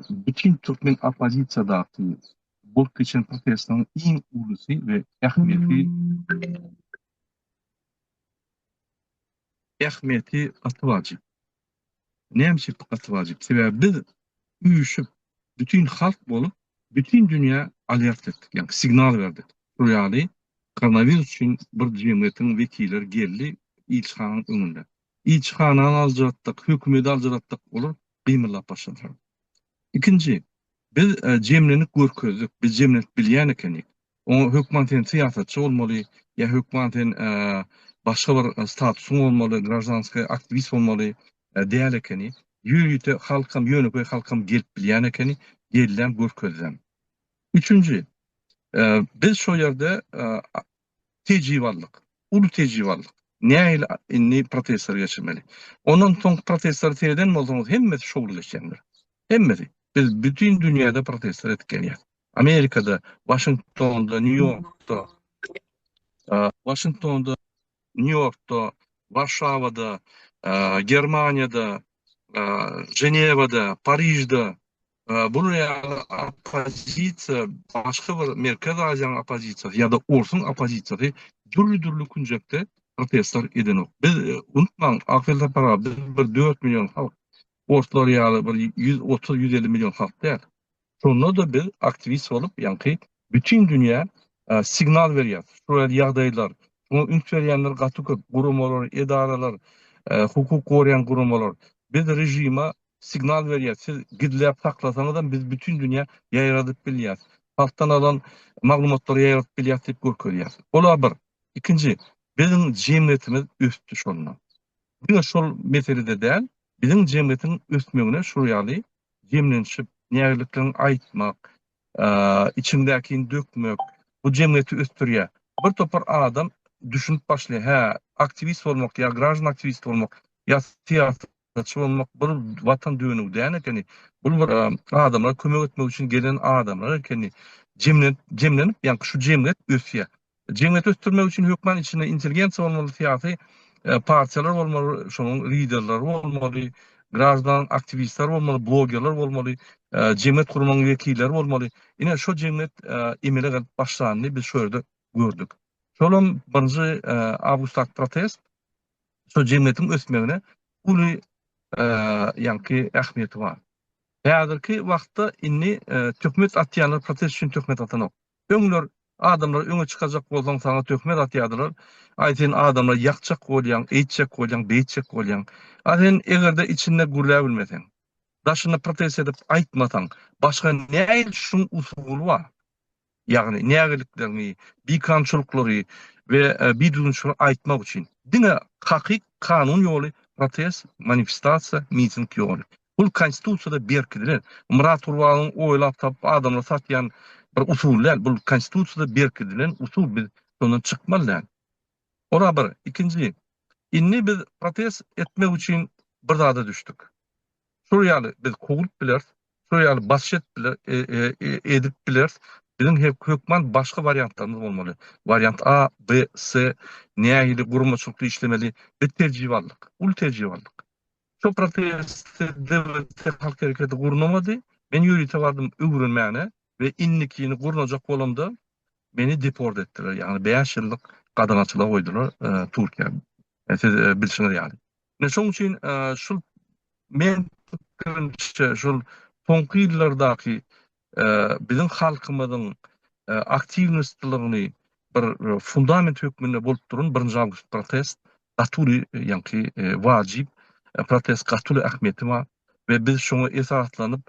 bütin türkmen oppozisiýadaky bolup geçen protestiň iň ulusy we ähmiýetli Ähmiýeti gaty wajyp. Näme üçin gaty wajyp? Sebäbi biz üýşüp, bütin halk bolup, bütin dünýä alert etdik, ýagny signal berdik. Şol ýaly koronawirus üçin bir jemgyýetiň wekilleri geldi ilçihananyň öňünde. Ilçihanany aljyratdyk, hökümeti aljyratdyk, olar gymyldap başladylar. Ikinji, biz jemlendik görkezdik, biz jemlenip bilýän ekenik. Oňa hökman sen syýasatçy bolmaly, ýa hökman sen başga bir statusyň bolmaly, graždanskaý aktiwist bolmaly däl ekeni. Ýörite halkam, ýönekeý halkam gelip bilýän ekeni, gelläm, görkezläm. Üçünji, biz şo ýerde tejribalylyk, uly tejribalylyk, nähili indi protestleri geçirmeli. Ondan soňky protestleri sereden bolsaňyz, hemmesi şowly geçendir. Hemmesi. Biz bütin dünýäde protestler edip gelýäs. Amerikada, Waşingtonda, Nýu-Ýorkda, Waşingtonda, Nýu-Ýorkda, Warşawada, Germaniýada, Ženewada, Parižde bular ýaly oppozisiýa, başga bir Merkezi Aziýanyň oppozisiýasy ýa-da orsuň oppozisiýasy dürli-dürli künjekde protestler edenok. Biz unutmaň, ahyr tapara biz bir dört million halk, orslar ýaly bir ýüz otuz, ýüz elli million halk däl. Şonda-da biz aktiwist bolup, ýaňky bütin dünýä signal berýäs. Şular ýagdaýlar, şuňa üns berýänler gaty köp, guramalar, edaralar, hukuk goraýan guramalar. Biz režime signal berýäs, siz gizläp saklasaňyzam, biz bütin dünýä ýaýradyp bilýäs. Halkdan alan maglumatlary ýaýradyp bilýäs diýip görkezýäs. Ol-a bir. Ikinji, biziň jemgyýetimiz ösdi şonda. Diňe şol meselede däl, biziň jemgyýetiň ösmegine şu ýaly jemlenişip, nägileliklerini aýtmak, içiňdäkini dökmek, bu jemgyýeti ösdürýär. Bir topar adam düşünip başlaýar, hä, aktiwist bolmak ýa graždan aktiwist bolmak, ýa syýasatçy bolmak bir watan dönügi däl ekeni, bul bir adamlara kömek etmek üçin gelen adamlar ekeni, jemlenip, jemlenip, ýaňky şu jemgyýet ösýär. Jemgyýeti ösdürmek üçin hökman içinde intelligensiýa bolmaly, syýasy partiýalar bolmaly, şonuň liderleri bolmaly, graždan aktiwistler bolmaly, blogerler bolmaly, jemgyýet guramagyň wekilleri bolmaly. Ine şo jemgyýet emele gelip başlandy, biz şo ýerde gördük. Şolam birinji awgustdaky protest şo jemgyýetiň ösmegine uly ýaňky ähmiýeti bar. Häzirki wagtda indi töhmet atýanlar protest üçin töhmet atanok. Öňler adamlar öňe çykajak bolsaň saňa töhmet atýadylar, aý sen adamlar ýakjak bolýaň, eýtjek bolýaň, beýtjek bolýaň. A sen egerde içinde gürläbilmeseň, daşynda protest edip aýtmasaň, başga näil şuň usuly bar? Ýagny nägilikleriňi, bikanunçylyklary we bidüzgünçilikleri aýtmak üçin. Diňe hakyk kanun ýoly protest, manifestasiýa, miting ýoly. Bul konstitusiýada berkidilen. Myrat Gurbanuň oýlap tapyp adamlara satýan bir usuly däl. Bul konstitusiýada berkidilen usul. Biz şondan çykmaly däl. Ora bir. Ikinji. Indi biz protest etmek üçin bir zada düşdük. Şol ýaly biz kowlup bileris. Şol ýaly basyş edip biler e e edip bileris. Biziň hek hökman başga wariantlarymyz bolmaly. Wariant A, B, C nähili guramaçylykly işlemeli. Biz tejribe aldyk. Uly tejribe aldyk. Şo prosesde DWT halk hereketi gurnamady. Men ýörite bardym öwrenmäne we indikini gurnajak bolamda meni deport etdiler, ýagny bäş ýyllyk gadagançylyga goýdular Türkiýe. Siz bilşiňiz ýaly. Ine şoň üçin şul men pikirimçe şul soňky ýyllardaky biziň halkymyzyň aktiwnostlygyny bir fundament hökmünde bolup duran birinji awgust protest gaty uly ýaňky wajyp protest gaty uly ähmiýeti bar we biz şoňa esaslanyp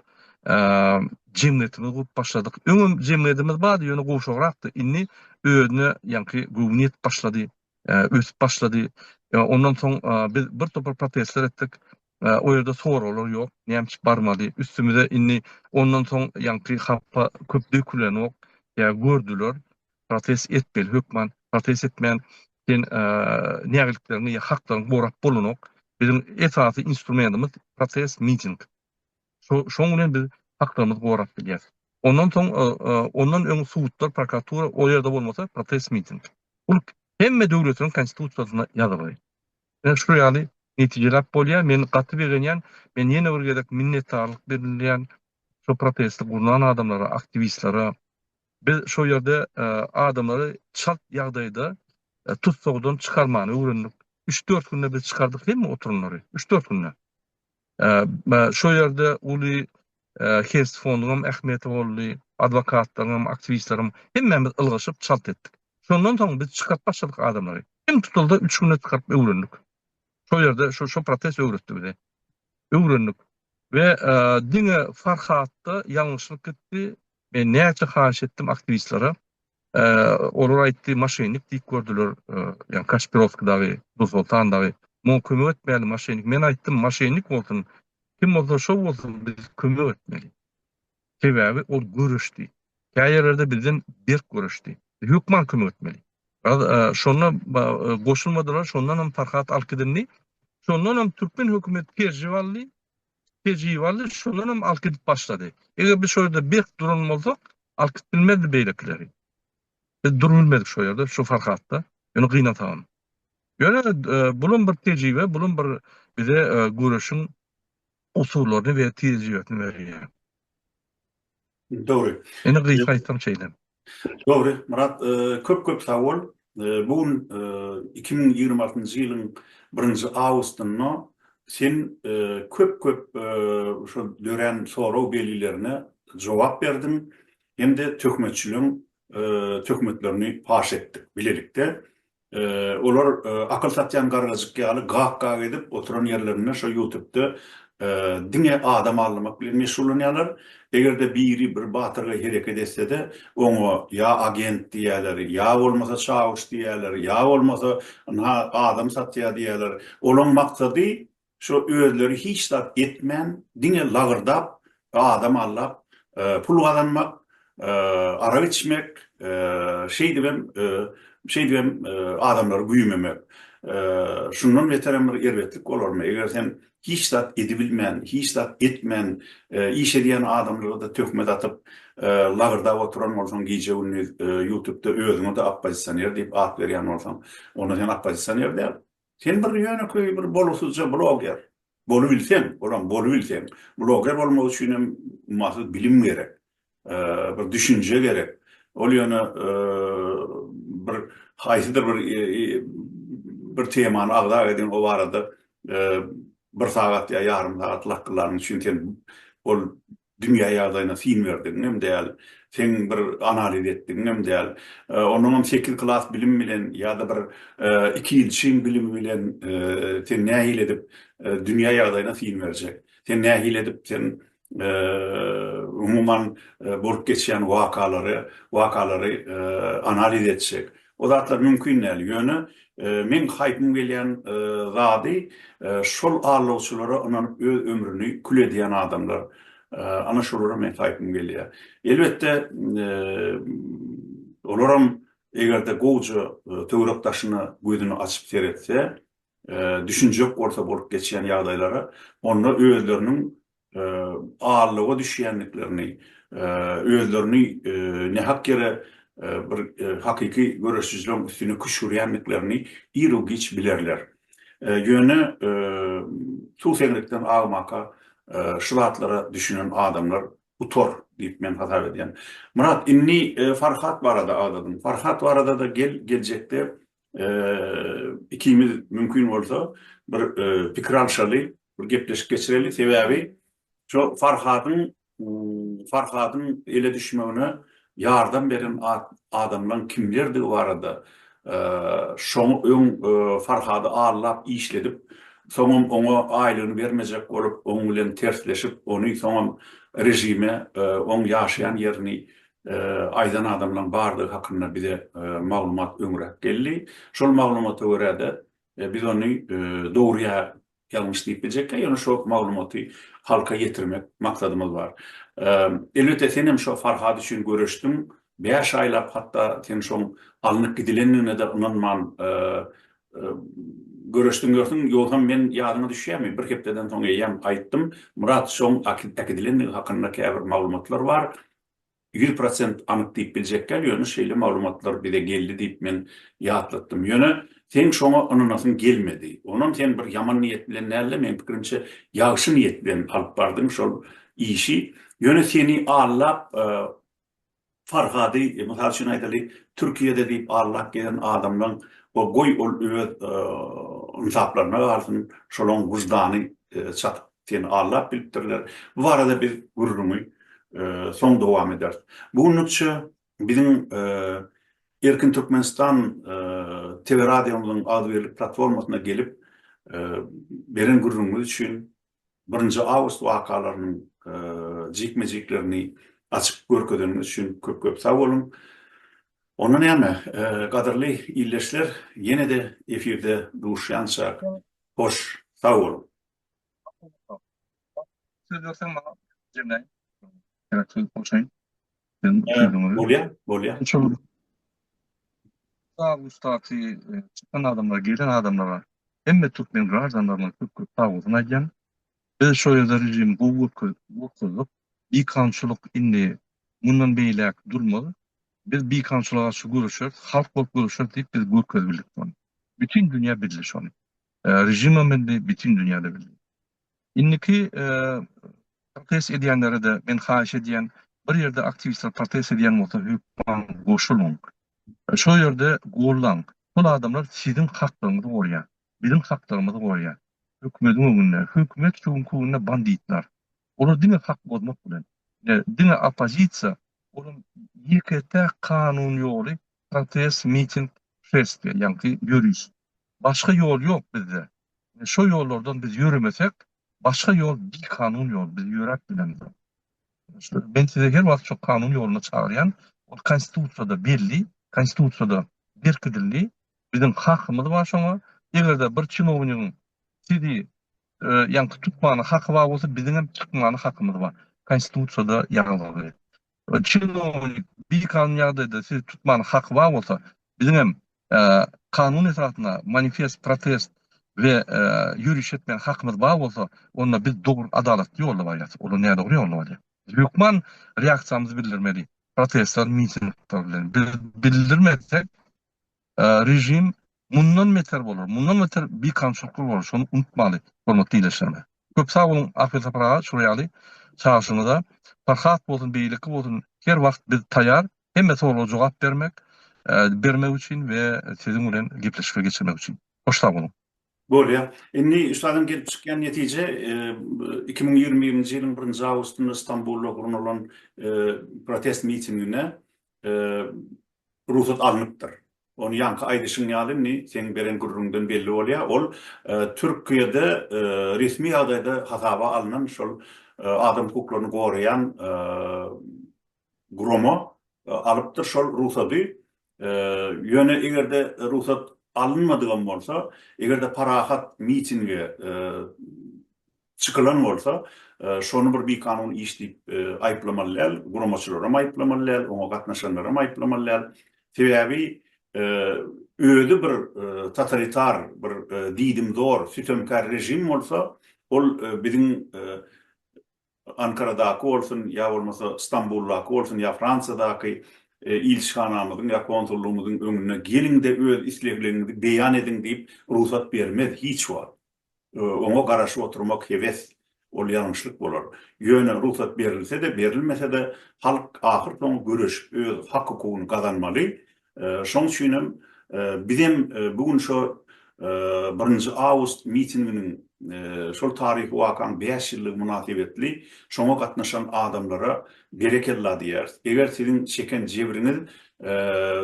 jemgyýetimizi gurup başladyk. Öňem jemgyýetimiz bardy, ýöne gowşagrakdy. Indi özüne ýaňky göwün ýetip başlady, ösüp başlady. Ondan soň biz birtopar protestler etdik. O ýerde soraglar ýok, näme üçin barmaly? Üstümize indi ondan soň ýaňky hapa köp dökülenok, ýa gördüler, protest etmeli hökman, protest etmän sen nägilikleriňi ýa haklaryňy gorap bolanok. Biziň esasy instrumentimiz protest, miting. Şoň bilen biz haklarymyzy gorap bilýäs. Ondan soň ondan öň sudlar, prokuratura o ýerde bolmasa protest, miting. Bu hemme döwletiniň konstitusiýasynda ýazylgy. Ine şu ýaly netijeläp bolýar. Men gaty begenýän. Men ýene bir gezek minnetdarlyk bildirýän şu protesti gurnan adamlara, aktiwistlere. Biz şo ýerde adamlary çalt ýagdaýda tussagdan çykarmany öwrendik. Üç-dört günde biz çykardyk hemme oturanlary. Üç-dört günde. Şo ýerde uly Hest fonduňam ähmiýeti boldy, adwokatlaryňam, aktiwistleriňem, hemmämiz ylgaşyp çalt etdik. Şondan soň biz çykaryp başladyk adamlary. Iň tutuldy üç günde çykaryp öwrendik. Şo ýerde şo protest öwretdi bize. Öwrendik. We diňe Farhatda ýalňyşlyk gitdi. Men näçe haýyş etdim aktiwistlere, Olar aýtdy, maşennik diýip gördüler, ýagny Kaşpirowsky dagy, Dursoltan dagy. Muňa kömek etmäli maşennik. Men aýtdym, maşennik bolsun, kim bolsa şo bolsun, biz kömek etmeli. Sebäbi ol göreşdi. Kä ýerlerde bizden berk göreşdi. Biz hökman kömek etmeli. Şonda goşulmadylar, şondanam Farhat alkydyndy. Şondanam türkmen hökümeti Perjew aldy. Tejribaly şondan hem alk edip başlady. Eger biz şo ýerde berk duran bolsak, alk edip bilmezdi beýlekileri. Biz durup bilmedik şo ýerde, şu Farhatda. Ýöne gynansagam. Ýöne bulam bir tejribe, bulam bir bize göreşiň usullaryny we tejribesini berýär. Dogry. Indi gysga aýtsaň şeýle. Dogry, Myrat, köp köp sag bol. Bu gün iki müň ýigrimi altynjy ýylyň birinji awgustynda sen köp köp şu dörän sorag belgilerine jogap berdiň hem-de töhmetçiligiň töhmetlerini paş etdik bilelikde. Olar akyl satýan gargajyk ýaly gak-gak edip oturan ýerlerinde şo ýutubda diňe adam aldamak bilen meşgullanýarlar. Eger-de biri bir batyrgaý hereket etse-de, oňa ýa agent diýerler, ýa bolmasa çawuş diýerler, ýa bolmasa ynha adam satýar diýerler. Olaň maksady Şo özleri hiç zat etmän diňe lagyrdap adam allap pul gazanmak, arak içmek, şeýdibem şeýdibem adamlary güýmemek. Şundan beterem bir erbetlik bolarmy eger sen hiç zat edibilmän, hiç zat etmän iş edýän adamlara-da töhmet atyp lagyrdap oturan bolsaň gije gündiz ýutubda özüňe-de oppozisioner diýip at berýän bolsaň onda sen oppozisioner däl. Sen bir ýönekeý bir bolgusyzja bloger. Bolubilseň, olam bolubilseň, bloger bolmak üçin hem ummasyz bilim gerek. Bir düşünje gerek. Ol ýöne bir haýsydyr bir bir temany agza ediň, o barada bir sagat ýa ýarym sagat lakkylanyň üçin sen ol dünýä ýagdaýyna syn berdigiňem däl, seň bir analiz etdigiňem däl, onuňam sekiz klas bilim bilen ýa-da bir iki ýyl çyn bilimi bilen sen nähili edip dünýä ýagdaýyna syn berjek? Sen nähili edip sen umuman bolup geçýän wakalary wakalary analiz etjek? O zatlar mümkin däl, ýöne meň haýpym gelýän zady şol allawçylara ynanyp öz ömrüni kül edýän adamlar. Ana şolara meň haýpym gelýär. Elbetde olaram eger-de gowja töwerek daşyna gözüni açyp seretse, düşünjek bolsa bolup geçýän ýagdaýlara, onda özleriniň aldawa düşýändiklerini, özlerini nähak ýere bir hakyky göreşijileriň üstüne küşgürýändiklerini iru-giç bilerler. Ýöne suw seňrikden agmaka şu zatlara düşünen adamlar utar diýip men hasap edýän. Myrat, indi Farhat barada agzadyň. Farhat barada-da gel, geljekde ikimiz mümkin bolsa bir pikir alşaly, bir gepleşik geçireli sebäbi şo Farhadyň Farhadyň ele düşmegine ýardam beren adamlaň kimlerdigi barada şoňy öň Farhady aldap işledip soňam oňa aýlygyny bermejek bolup oň bilen tersleşip ony soňam režime oň ýaşaýan ýerini aýdan adamlaň bardygy hakynda bize maglumat öňräk geldi şol maglumata görä-de biz ony dogry ýa Ýalňyş diýip biljekkä, ýöne şo maglumaty halka ýetirmek maksadymyz bar. Elbetde senem şo Farhat üçin göreşdiň, bäş aýlap hatda sen şoň alnyp gidilendigine-de ynanman göreşdiň ýörsiň, ýogsam men ýadyňa düşýärmi, bir hepdeden soň eýýäm gaýtdym, Myrat şoň äkidilendigi hakynda käbir maglumatlar bar, Ýüz prosent anyk diýip biljek däl, ýöne şeýle maglumatlar bize geldi diýip men ýatlatdym. Ýöne seň şoňa ynanasyň gelmedi. Onam sen bir ýaman niýet bilen däl-de, meň pikirimçe, ýagşy niýet bilen alyp bardyň şol işi. Ýöne seni aldap Farhady, mysal üçin aýdaly, Türkiýede diýip aldap gezen adamlaň, goý ol öz ynsaplaryna galsyn, şolaň wyždany çatyp Seni Alla bilipdirler. Bu barada biz gürrüňi soň dowam ederis. Bu günlükçe biziň Erkin Türkmenistan TV radiomyzyň agzybirlik platformasyna gelip beren gürrüňiňiz üçin, birinji awgust wakalarynyň jikme-jiklerini açyp görkezeniňiz üçin köp-köp sag boluň. Onda näme, gadyrly ildeşler, ýene-de efirde duşýançak, hoş, sag boluň! Söz berseň maňa jemläýin. Gerek söz goşaýyn. Sen sözüňi. Bolýar, bolýar. Şol sag ussatly e, çykan adamlar, gelen adamlara hemme türkmen graždanlaryna köp köp sag bolsun aýdýan. Biz şol ýerde režimi gowy görke- görkezdik. Bikançylyk indi mundan beýläk durmaz. Biz bikançylyga garşy göreşeris, halk bolup göreşeris diýip biz görkezip bildik muny. Bütin dünýä bildi şony. Režimem bildi, bütin dünýä-de bildi. Indiki protest edýänlere-de men haýyş edýän, bir ýerde aktiwistler protest edýän bolsa, hökman goşuluň. Şol ýerde gollaň. Şol adamlar siziň haklaryňyzy gorýär. Biziň haklarymyzy gorýär. Hökümetiň öňünde. Hökümet şu günki günde banditler. Olar diňe hak bozmak bilen. Diňe oppozisiýa, olam ýeke-täk kanun ýoly protest, miting, şestiýa, ýagny ýöriş. Başga ýol ýok bizde. Ine şo ýollardan biz ýöremesek, başga ýol bikanun ýol, biz ýöräp bilemizok. Men sizi her wagt şo kanun ýoluna çagyrýan, ol konstitusiýada belli, konstitusiýada berkidildi, biziň hakymyz bar şoňa, eger-de bir çinownigiň sizi ýaňky tutmana haky bar bolsa, biziňem çykmana hakymyz bar, konstitusiýada ýazgyly. Ol çinownik bikanun ýagdaýda sizi tutman haky bar bolsa, biziň hem kanun esasynda manifest, protest we ýöriş etmän hakymyz bar bolsa, onda biz dogry adalatly ýolda barýas, olar nädogry ýolda barýar. Biz hökman reaksiýamyzy bildirmeli, protestler, mitingler bilen. Biz bildirmezsek, Režim mundan beter bolar, mundan beter bikamçylykly bolar, şony unutmaly, hormatly ildeşlerime. Köp sag boluň Ahmet Sapar aga, şular ýaly çagyşyňyza. Farhat bolsun, beýleki bolsun, her wagt biz taýýar hemme soraga jogap bermek, bermek üçin we siziň bilen gepleşikleri geçirmek üçin. Hoş sag boluň. Bolýar. Indi üstadyň gelip çykýan netije, iki müň ýigrimi birinji ýylyň birinji awgustynda Stambulda gurnalan protest mitingine rugsat alnypdyr. Ony ýaňky aýdyşyň ýaly indi seň beren gürrüňden belli bolýar, ol Türkiýede resmi ýagdaýda hasaba alnan şol adam hukuklaryny goraýan gurama alypdyr şol rugsady. Ýöne eger-de rugsat alynmadygam bolsa, eger-de parahat mitinge çykylan bolsa, şony bir bikanun iş diýip aýyplamaly däl, guramaçylaram aýyplamaly däl, oňa gatnaşanlaram aýyplamaly däl. Sebäbi özi bir totalitar, bir diýdimzor, sütemkär režim bolsa, ol biziň Ankaradaky bolsun, ýa bolmasa Stambuldaky bolsun, ýa Fransiýadaky ilçihanamyzyň ýa konsullygymyzyň öňüne geliň-de öz islegleňiňizi beýan ediň diýip rugsat bermez hiç wagt. oňa garaşyp oturmak hewes, ol ýalňyşlyk bolar. Ýöne rugsat berilse-de, berilmese-de, halk ahyrsoňy göreşip öz hak-hukugyny gazanmaly. Şoň üçinem bizem bu gün şo birinji awgust mitinginiň, şol taryhy wakaň bäş ýyllygy mynasybetli şoňa gatnaşan adamlara Berekella diýýäris. Eger siziň çeken jebriňiz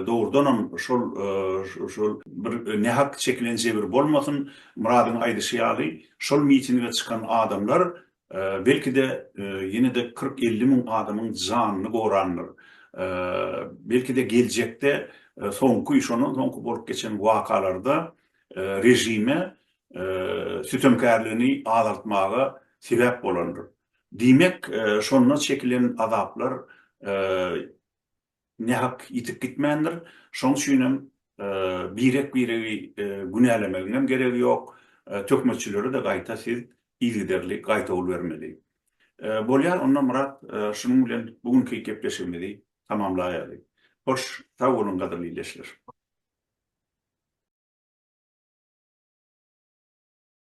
dogrudanam şol şol bir nähak çekilen jebir bolmasyn, Myradyň aýdyşy ýaly, şol mitinge çykan adamlar belki-de ýene-de kyrk-elli müň adamyň janyny gorandyr. Belki-de geljekde soňky, şondan soňky bolup geçen wakalarda režime sütemkärligini azaltmaga sebäp bolandyr. Diýmek, şonda çekilen azaplar nähak ýitip gitmändir. Şonuň üçin hem birek-biregi günälemegiň hem geregi ýok. Töhmetçilere-de gaýta siz yzygiderli gaýtawul bermeli. Bolýar, onda Myrat, şunuň bilen bu günki gepleşigimizi tamamlaýaly. Hoş, sag boluň, gadyrly ildeşler!